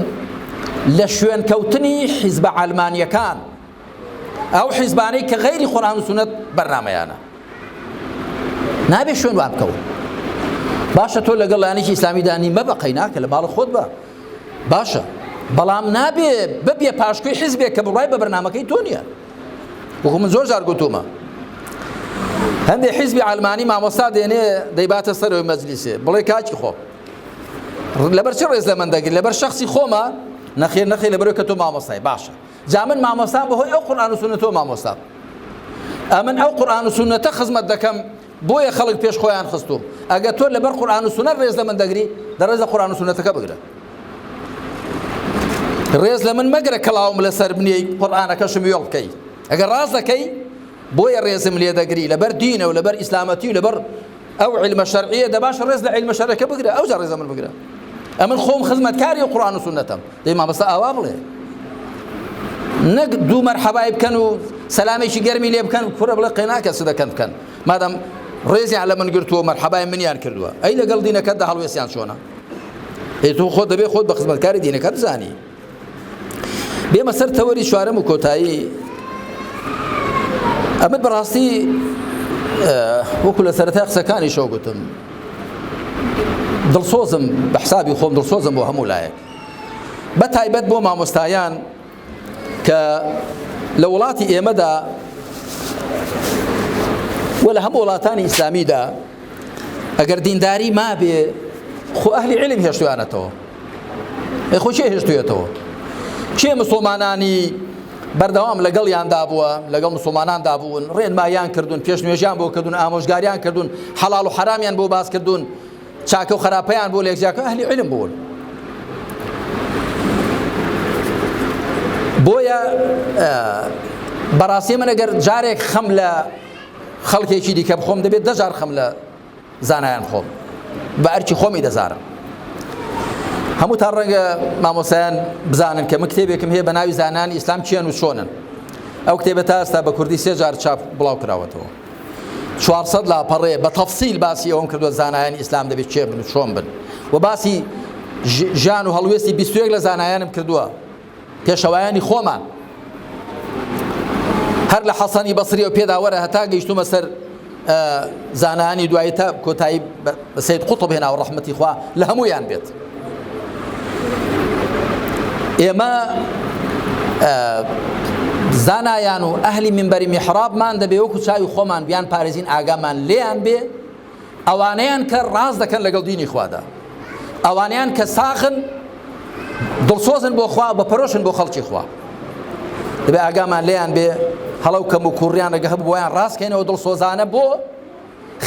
لە شوێن کەوتنی حیزبە ئەلمانیەکان ئەو حیزبانەی کە غیری قورآن و سنت بەرنمەیانە نابێ شوێن وان بکەون باشە تۆ لەگەڵ لایەنێکی ئیسلامی دانی مە بە قەیناکە لە ماڵ خۆت بە باشە بەڵام نابێ ببێ پاشکوی حیزبێک کە بڕای بە بەرنمەکەی تۆ نیە وەکو من زۆر جار گوتومە هەندێک حیزبی ئەلمانی مامۆستا دێنێ دەیباتە سەرەوەی مەجلیسێ بڵێ کاکی خۆ لەبەر چ ڕێز لە من دەگرن لەبەر شخصی خۆمە نەخێر نەخێ لەبەرەوە کە تۆ مامۆستای باشە جا من مامۆستان بەهۆی ئەو قورآان و سونە تۆ مامۆستان ئەمن ئەو قورآان و سونەتە خزمەت دەکەم بۆیە خەڵک پێش خۆیان خستوم ئەگە تۆ لەبەر قورآن و سنە ڕێز لە من دەگری دە ڕێز لە قورآن و سنەتەکە بگرە ڕێز لە من مەگرە کەڵاوم لەسەر بنیە قورآانەکەشم وێڵ بکەی ئەگەر ڕاست دەکەی بۆیە ڕێزم لێ دەگری لەبەر دینە و لەبەر ئیسلامەتی و لەبەر ئەو علمە شەرعیە دەباش ڕێز لە علمە شەرەکە بگرە ئەو جا ڕێزە من بگرە ئەمن خۆم خزمەتکاری و قڕان و سنەتەم دەی مامۆستا ئاوا بڵێ نەک دوو مەرحەبای بکەن و سەلامێکی گەرمی لێ بکەن کوڕە بڵێ قێناکە سودەکەن بکەن مادەم ڕێزیان لە من گرتووە مەرحەبای منیان کردووە ئەی لەگەڵ دینەکەتدا هەڵوێستیان چۆنە ئەی تۆ خۆت دەبێ خۆت بە خزمەتکاری دینەکە بزانی بێمە سەر تەوەری چوارەم و کۆتایی ئەمە بەڕاستی وەکو لە سەرەتا قسەکانی شەو گوتم دڵسۆزم بە حسابی خۆم دڵسۆزم بۆ هەموو لایەک بە تایبەت بۆ مامۆستایان کە لە وڵاتی ئێمەدا و لە هەموو وڵاتانی ئیسلامیدا ئەگەر دینداری مابێ خۆ ئەهلی علم هێشتویانەتەوە ئەی خۆ چێ هێشتوێتەوە چێ مسلمانانی بەردەوام لەگەڵ یاندا بووە لەگەڵ مسلماناندا بوون ڕێنمایان کردوون پێش نوێژیان بۆ کردوون ئامۆژگاریان کردوون حەڵال و حرامیان بۆ باس کردوون چاکە و خراپەیان بۆ لێک جیاکە ئەهلی علم بوون بۆیە بەڕاستی من ئەگەر جارێک خەم لە خەڵکێکی دیکە بخۆم دەبێت دەجار خەم لە زانایان خۆم بە ئەرکی خۆمی دەزارم هەموو تا ڕەنگە مامۆسایان بزانن کە من کتێبێکم هەیە بە ناوی زانانی ئیسلام چێن و چۆنن ئەو کتێبە تا ئێستا بە کوردی سێجار چاپ بڵاو کراوەتەوە چوار سەد لاپەڕەیە بە تەفسیل باسی ئەوەم کردووە زانایانی ئیسلام دەبێت کێ بن و چۆن بن و باسی ژیان و هەڵوێستی بیستوێک لە زانایانم کردووە پێشەوایانی خۆمان هەر لە حەسەنی بەسری و پێداوەرە هەتا گەیشتومە سەر زانانی دوایی تا کۆتایی بە سید قوتب هێناوە ڕەحمەتی خوا لە هەموویان بێت ئێمە زانایان و ئەهلی منبەری میحرابمان دەبێ وەکو چاوی خۆمان بیان پارێزین ئاگامان لێیان بێ ئەوانەیان کە ڕاز دەکەن لەگەڵ دینی خوادا ئەوانیان کە ساخن دڵسۆزن بۆ خوا بە پەرۆشن بۆ خەڵکی خوا دەبێ ئاگامان لێیان بێ هەڵەو کەم و کوڕیان لەگە هەبوویان ڕاستکەینەوە دڵسۆزانە بۆ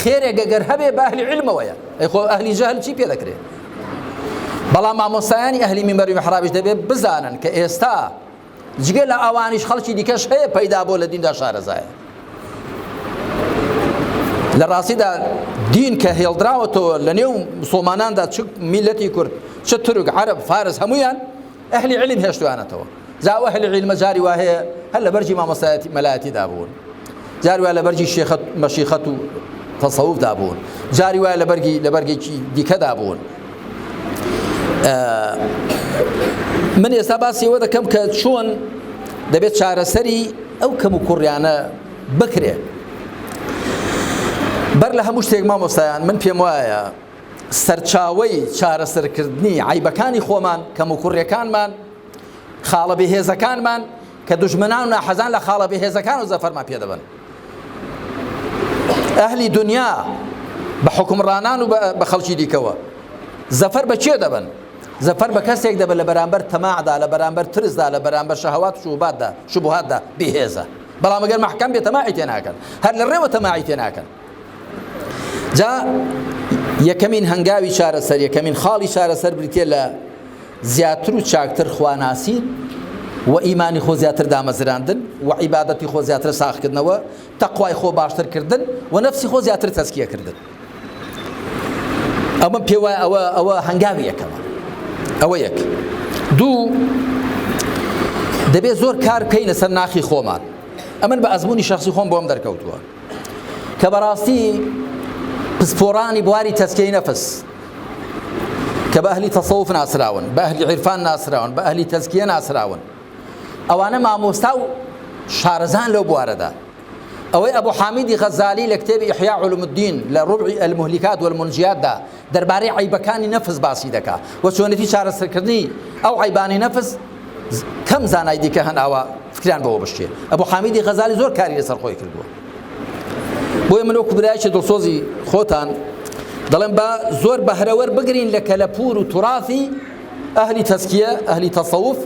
خێرێ گەگەر هەبێ بە ئەهلی علمەوەیە ئەی خۆ ئەهلی جەهل چی پێ دەکرێ بەڵام مامۆستایانی ئەهلی مینبەر و محرابش دەبێ بزانن کە ئێستا جگە لە ئەوانیش خەڵکی دیکەش هەیە پەیدا بۆ لە دیندا شارەزایە لە ڕاستیدا دین کە هێڵدراوەتەوە لە نێو مسلماناندا چ میلەتی کورد چ تورک عرب فارس هەمویان ئەهلی عیلم هێشتویانەتەوە جا ئەو ئەهلی عیلمە جاری وا هەیە هەر لە بەرگی مامۆستایەتی مەلایەتیدا بوون جاری وا لە بەرگی شێخەت مەشیخەت و تەسەوفدا بوون جاری وایە لە بەرگی لە بەرگێکی دیکەدا بوون من ئێستا باسیەوە دەکەم کە چۆن دەبێت چارەسەری ئەو کەم و کوڕیانە بکرێت بەر لە هەموو شتێک مامۆستایان من پێم وایە سەرچاوەی چارەسەرکردنی عەیبەکانی خۆمان، کەموکوڕیەکانمان، خاڵە بێهێزەکانمان، کە دوژمنان و ناحەزان لە خاڵە بێهێزەکان و زەفەرمان پێ دەبەن. ئەهلی دونیا بە حوکمڕانان و بە خەڵکی دیکەوە زەفەر بە کێ دەبەن؟ زەفەر بە کەسێک دەبەن لە بەرامبەر تەماعدا، لە بەرامبەر ترسدا، لە بەرامبەر شەهەوات و شوبهاتدا، شوبهاتدا بێهێزە. بەڵام ئەگەر مەحکەم بێ تەماعی تێ ناکەن. هەر لە ڕێوە تەماعی تێ ناکەن. جا یەکەمین هەنگاوی چارەسەر یەکەمین خاڵی چارەسەر بریتە لە زیاتر و چاکتر خواناسی و ئیمانی خۆ زیاتر دامەزراندن و عیبادەتی خۆ زیاتر ساخکردنەوە تەخوای خۆ باشترکردن و نەفسی خۆ زیاتر تەسکیەکردن ئەمە پێوای ئەوە ئەوە هەنگاوی یەکەمە ئەوە یەک دوو دەبێت زۆر کار بکەینە سەر ناخی خۆمان ئەمن بە ئەزمموی شخصی خۆم بۆم دەرکەوتووە کە بەڕاستی پسپۆڕانی بواری تەسکیەی نەفس کە بە ئەهلی تەسەوف ناسراون بە ئەهلی عیرفان ناسراون بە ئەهلی تەسکیە ناسراون ئەوانە مامۆستا و شارەزان لەو بوارەدا ئەوەی ئەبوو حامیدی غەزالی لە کتێبی ئحیا علوم الدین لە ڕبعی المهلکات والمنجیاتدا دەربارەی عەیبەکانی نەفس باسی دەکا و چۆنێتی چارەسەرکردنی ئەو عەیبانەی نەفس کەم زانای دیکە هەن ئاوا فکریان بەوە بشکێ ئەبو حامیدی غەزالی زۆر کاری لەسەر خۆی کردووە بۆیە من وەکو برایکی دڵسۆزی خۆتان دەڵێن با زۆر بەهرەوەر بگرین لە کەلەپور و تراثی ئەهلی تەسکیە ئەهلی تەسەوف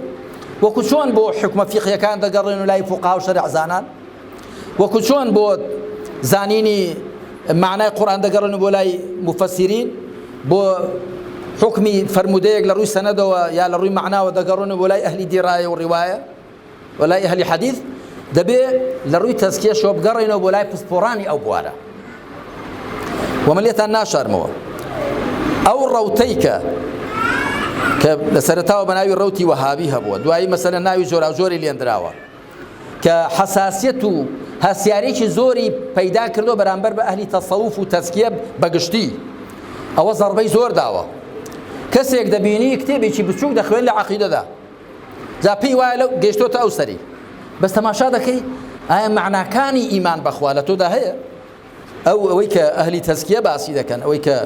وەکو چۆن بۆ حکومە فیقیەکان دەگەڕێن و لای فوقا و شەرعزانان وەکو چۆن بۆ زانینی مەعنای قورئان دەگەڕێن بۆ لای مفەسیرین بۆ حکمی فرموودەیەک لە ڕووی سەنەدەوە یا لە ڕووی مەعناوە دەگەڕێن و بۆ لای ئەهلی دیڕایە و ڕیوایە و لای ئەهلی حەدیث دەبێ لە ڕووی تەزکیەشەوە بگەڕێنەوە بۆ لای پسپۆڕانی ئەو بوارە ومە لێتان ناشارمەوە ئەو ڕەوتەی کە کە لە سەرتاوە بە ناوی ڕوتی وەهابی هەبووە دوایی مەسەلە ناوی جۆراوجۆری لێندراوە کە حەساسیەت و هەستیاریەکی زۆری پەیدا کردوە بەرامبەر بە ئەهلی تەسەوف و تەزکیە بە گشتی ئەوە زەڕبەی زۆر داوە کەسێک دەبینی کتێبێکی بچووک دەخوێن لە عقیدەدا جا پێی وایە لەو گەشتۆتە ئەو سەری بەس تەماشا دەکەی ئایا معناکانی ئیمان بەخوا لە تۆدا هەیە ئەو ئەوەی کە ئەهلی تەزکیە باسی دەکەن ئەوەی کە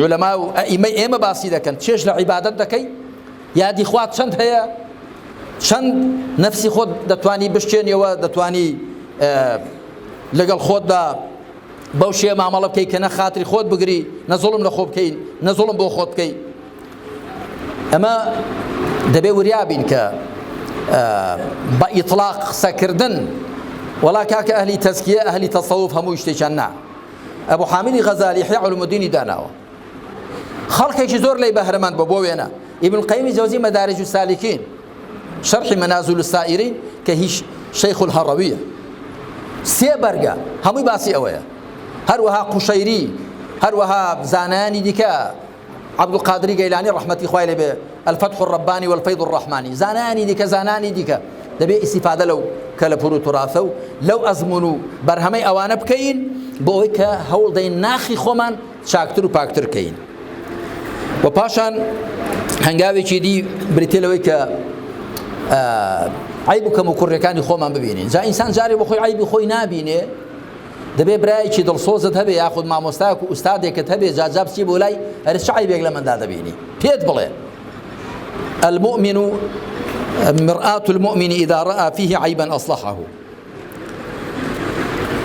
علەما و ئەئیمەی ئێمە باسی دەکەن چێژ لە عیبادەت دەکەی یادی خوات چەند هەیە چەند نەفسی خۆت دەتوانی بشتێنیەوە دەتوانی لەگەڵ خۆتدا بەو شێ مامەڵە بکەی کە نە خاتری خۆت بگری نە زۆڵم لە خۆ بکەین نە زۆڵم بۆ خۆت بکەیت ئەمە دەبێ وریا بین کە بە ئیطلاق قسەکردن وەڵا کاکە ئەهلی تەسکیە ئەهلی تەسەوف هەموو شتێکیان نا ئەبوو حامیلی غەزالی یحیی علومدینی داناوە خەڵکێکی زۆر لەی بەهرەمەند بۆ بۆ وێنە ابن القیم جوزی مدارج السالکین شرح منازل السائرین کە هیچ شیخ الهرویە سێ بەرگە هەمووی باسی ئەوەیە هەروەها قوشەیری هەروەها زانانی دیکە عەبدولقادری گەیلانی ڕەحمەتی خوای لێ بێ، الفتح الربانی والفیض الرحمانی، زانایانی دیکە زانانی دیکە، دەبێ ئیستیفادە لەو کەلەپور و توراثە و لەو ئەزموون و بەرهەمەی ئەوانە بکەین بۆ ئەوەی کە هەوڵ دەین ناخی خۆمان چاکتر و پاکتر کەین و پاشان هەنگاوێکی دی بریتێ لەوەی کە عیب و کەم و کوڕەکانی خۆمان ببینین جا ئینسان جارێ بۆ خۆی عیبی خۆی نابینێ دەبێ برایەکی دڵسۆزت هەبێ یاخود مامۆستایەک و ئوستادێکت هەبێ جا جا بچی بۆ لای ئەرێ چ عەیبێک لە مندا دەبینی پێت بڵێ المؤمن مرآة المؤمن إذا رأى فيه عيبا أصلحه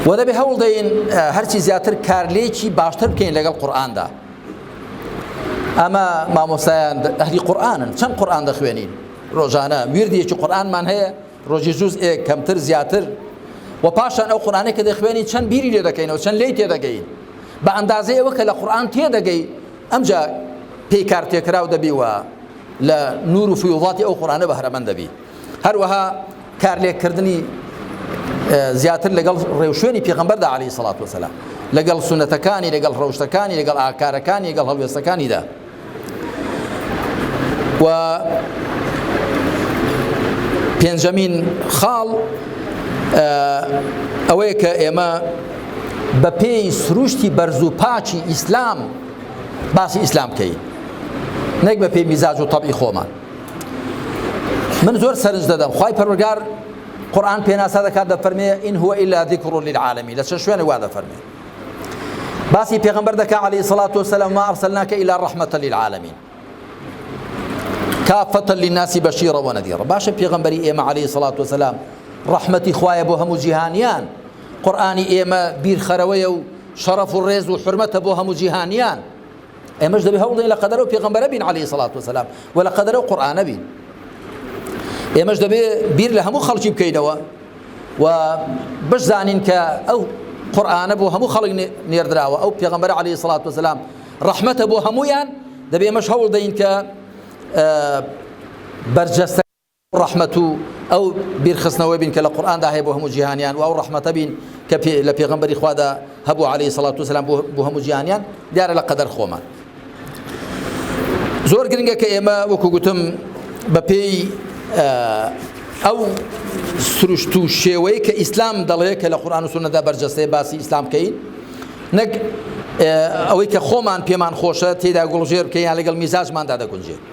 و دەبێ هەوڵ دەین هەرچی زیاتر کارلێکی باشتر بکەین لەگەڵ قورآاندا ئەمە مامۆسایان ئەهلی قورآانن چەند قورآان دەخوێنین ڕۆژانە وردێکی قورآانمان هەیە ڕۆژی جوز ئێک کەمتر زیاتر و پاشان ئەو قورآانەی کە دەخوێنی چەند بیری لێ دەکەینەوە چەند لی تێدەگەی بە ئەندازەی ئەوە کە لە قورآان تێدەگەی ئەمجا پێی کار تێکراو دەبی وە لە نور و فیوڵاتی ئەو قورآانە بەهرەمەند دەبی هەروەها کار لێکردنی زیاتر لەگەڵ ڕێوشوێنی پێغمبەردا علی سڵات وسلام لەگەڵ سونەتەکانی لەگەڵ ڕەوشتەکانی لەگەڵ ئاکارەکانی لەگەڵ هەڵوێستەکانیدا و پێنجەمین خاڵ ئەوەیە کە ئێمە بە پێی سروشتی بەرز و پاچی ئیسلام باسی ئیسلام بکەین نەک بە پێی میزاج و تەبی خۆمان من زۆر سەرنج دەدەم خی پەرۆگار قورآن پێناسا دەکات دە فەرمێ ئین هو إلا ذکر للعالمین لە چەند شوێنە وا دەفەرمێ باسی پێغمبەر دەکا عەلەیهی سەڵات وسلام ما ئەرسەلناکە ئیلا ڕەحمەتە للعالمین کافەتە للناسی بەشیڕە وەنەدیڕە باشە پێغمبەری ئێمە عەلەیهی سەڵات وسلام ڕەحمەتی خوایە بۆ هەموو جیهانیان قورآانی ئێمە بیرخەرەوەیە و شەڕەف و ڕێز و حرمەتە بۆ هەموو جیهانیان ئێمەش دەبێ هەوڵدەین لە قەدەرەوە پێغەمبەرە بین عەلەیهی سەڵات وسەلام و لە قەدەرەوە قورئانە بین ئێمەش دەبێ بیر لە هەموو خەڵکی بکەینەوە و بشزانین کە ئەو قورآانە بۆ هەموو خەڵک نێردراوە ئەو پێغمبەر عليه سڵات وسلام ڕحمەتە بۆ هەمویان دەبێ مەش هەوڵ دەین کە بەرجەستە ڕەحمەت و ئەو بیرخستنەوەی بین کە لە قورئاندا هەیە بۆ هەموو جیهانیان و ئەو ڕەحمەتە بین کە لە پێغەمبەری خوادا هەبوو عەلەیهی سەڵات و سەلام بۆ هەموو جیهانیان دیارە لە قەدەر خۆمان زۆر گرنگە کە ئێمە وەکو گوتم بەپێی ئەو سروشت و شێوەیە کە ئیسلام دەڵێ کە لە قورآان و سونەدا بەرجەستەیە باسی ئیسلام بکەین نەک ئەوەی کە خۆمان پێمان خۆشە تێدا گوڵژێر بکەیان لەگەڵ میزاجماندا دەگونجێت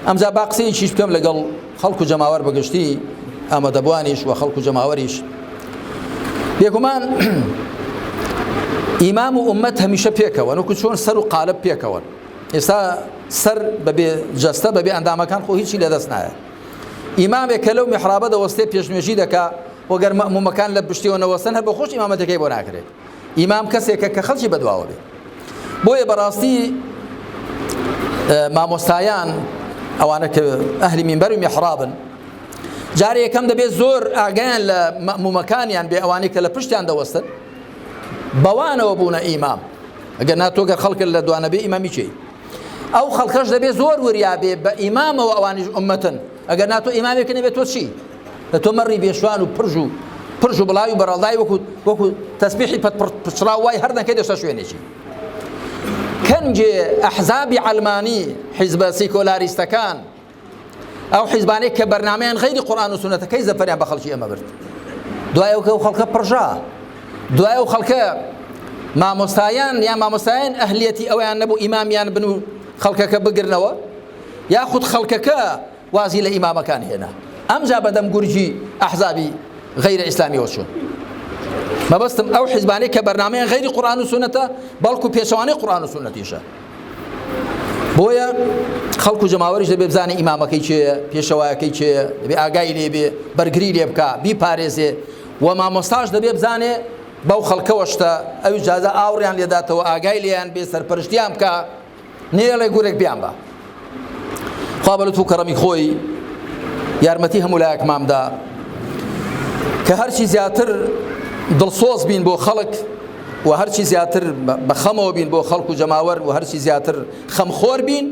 ئەمجا با قسەیەکیش بکەم لەگەڵ خەڵک و جەماوەر بەگشتی ئامادەبوانیش و خەڵک و جەماوەریش بێگومان ئیمام و ئومەت هەمیشە پێکەوە نوکو چۆن سەر و قالب پێکەوە ئێستا سەر بەبێ جەستە بەبێ ئەندامەکان خۆ هیچی لەدەست نایە ئیمامێک کە لەو میحرابە دەوەستێ پێشنوێژی دەکا وەگەر مەمومەکان لە پشتیەوە نەوەسن هەر بە خۆش ئیمامەتەکەی بۆ ناکرێت ئیمام کەسێکە کە خەڵکی بەدواوە بێ بۆیە بەڕاستی مامۆستایان ئەوانە کە ئەهلی مینبەر و میحرابن جارێ یەکەم دەبێت زۆر ئاگیان لە مەمومەکانیان بێ ئەوانەی کە لە پشتیان دەوەستن بەوانەوە بوونە ئیمام ئەگەر ناتۆگەر خەڵکە لە دوانەبێ ئیمامیچی ئەو خەڵکەش دەبێت زۆر وریابێ بە ئیمامەوە ئەوانیش عمەتن ئەگەر نا تۆ ئیمامێکە نەبێت تۆ چی لە تۆ مەڕی بێشوان و پرژ و پرژ و بڵاوی بەڕەڵدای وەکو وەکو تەسبیحی پەت پچڕاو وای هەر نەکەی دەشتە شوێنێکی کەنجێ ئەحزابی عەلمانی حیزبە سیکۆلاریستەکان ئەو حیزبانەی کە بەرنمەیان غیری قورآن و سونەتەکەی زەفەریان بە خەڵکی ئەمە برد دوای ئەوکە و خەڵکە پڕژا دوای ئەو خەڵکە مامۆستایان یا مامۆستایان ئەهلیەتی ئەویان نەبوو ئیمامیان بن و خەڵکەکە بگرنەوە یاخود خەڵکەکە وازی لە ئیمامەکان هێنا ئەمجا بەدەم گورگی ئەحزابی غەیرە ئیسلامیەوە چوون مەبەستم ئەو حیزبانەی کە بەرنمەیان غەیری قورآن و سونەتە بەڵکو پێچەوانەی قورآن و سونەتیشە بۆیە خەڵکو جەماوەریش دەبێ بزانێ ئیمامەکەی چێ پێشەوایەکەی چێ دەبێ ئاگای لێبێ بەرگری لێ بکە بی پارێزێ و مامۆستاش دەبێ بزانێ بەو خەڵکەوە شتە ئەوی جازە ئاوڕیان لێداتەوە ئاگای لێیان بێ سەرپەرشتیان بکە نێڵێ گورێک بیان بە خوا بە لوتف و کەڕەمی خۆی یارمەتی هەموو لایەکمامدا کە هەرچی زیاتر دڵسۆز بین بۆ خەڵک و هەرچی زیاتر بە خەمەوە بین بۆ خەڵک و جەماوەر و هەرچی زیاتر خەمخۆر بین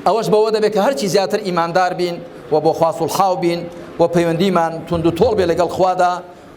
ئەوەش بەوە دەبێت کە هەرچی زیاتر ئیماندار بین و بۆ خواست و حاو بین و پەیوەندیمان تونند و تۆڵ بێ لەگەڵ خوادا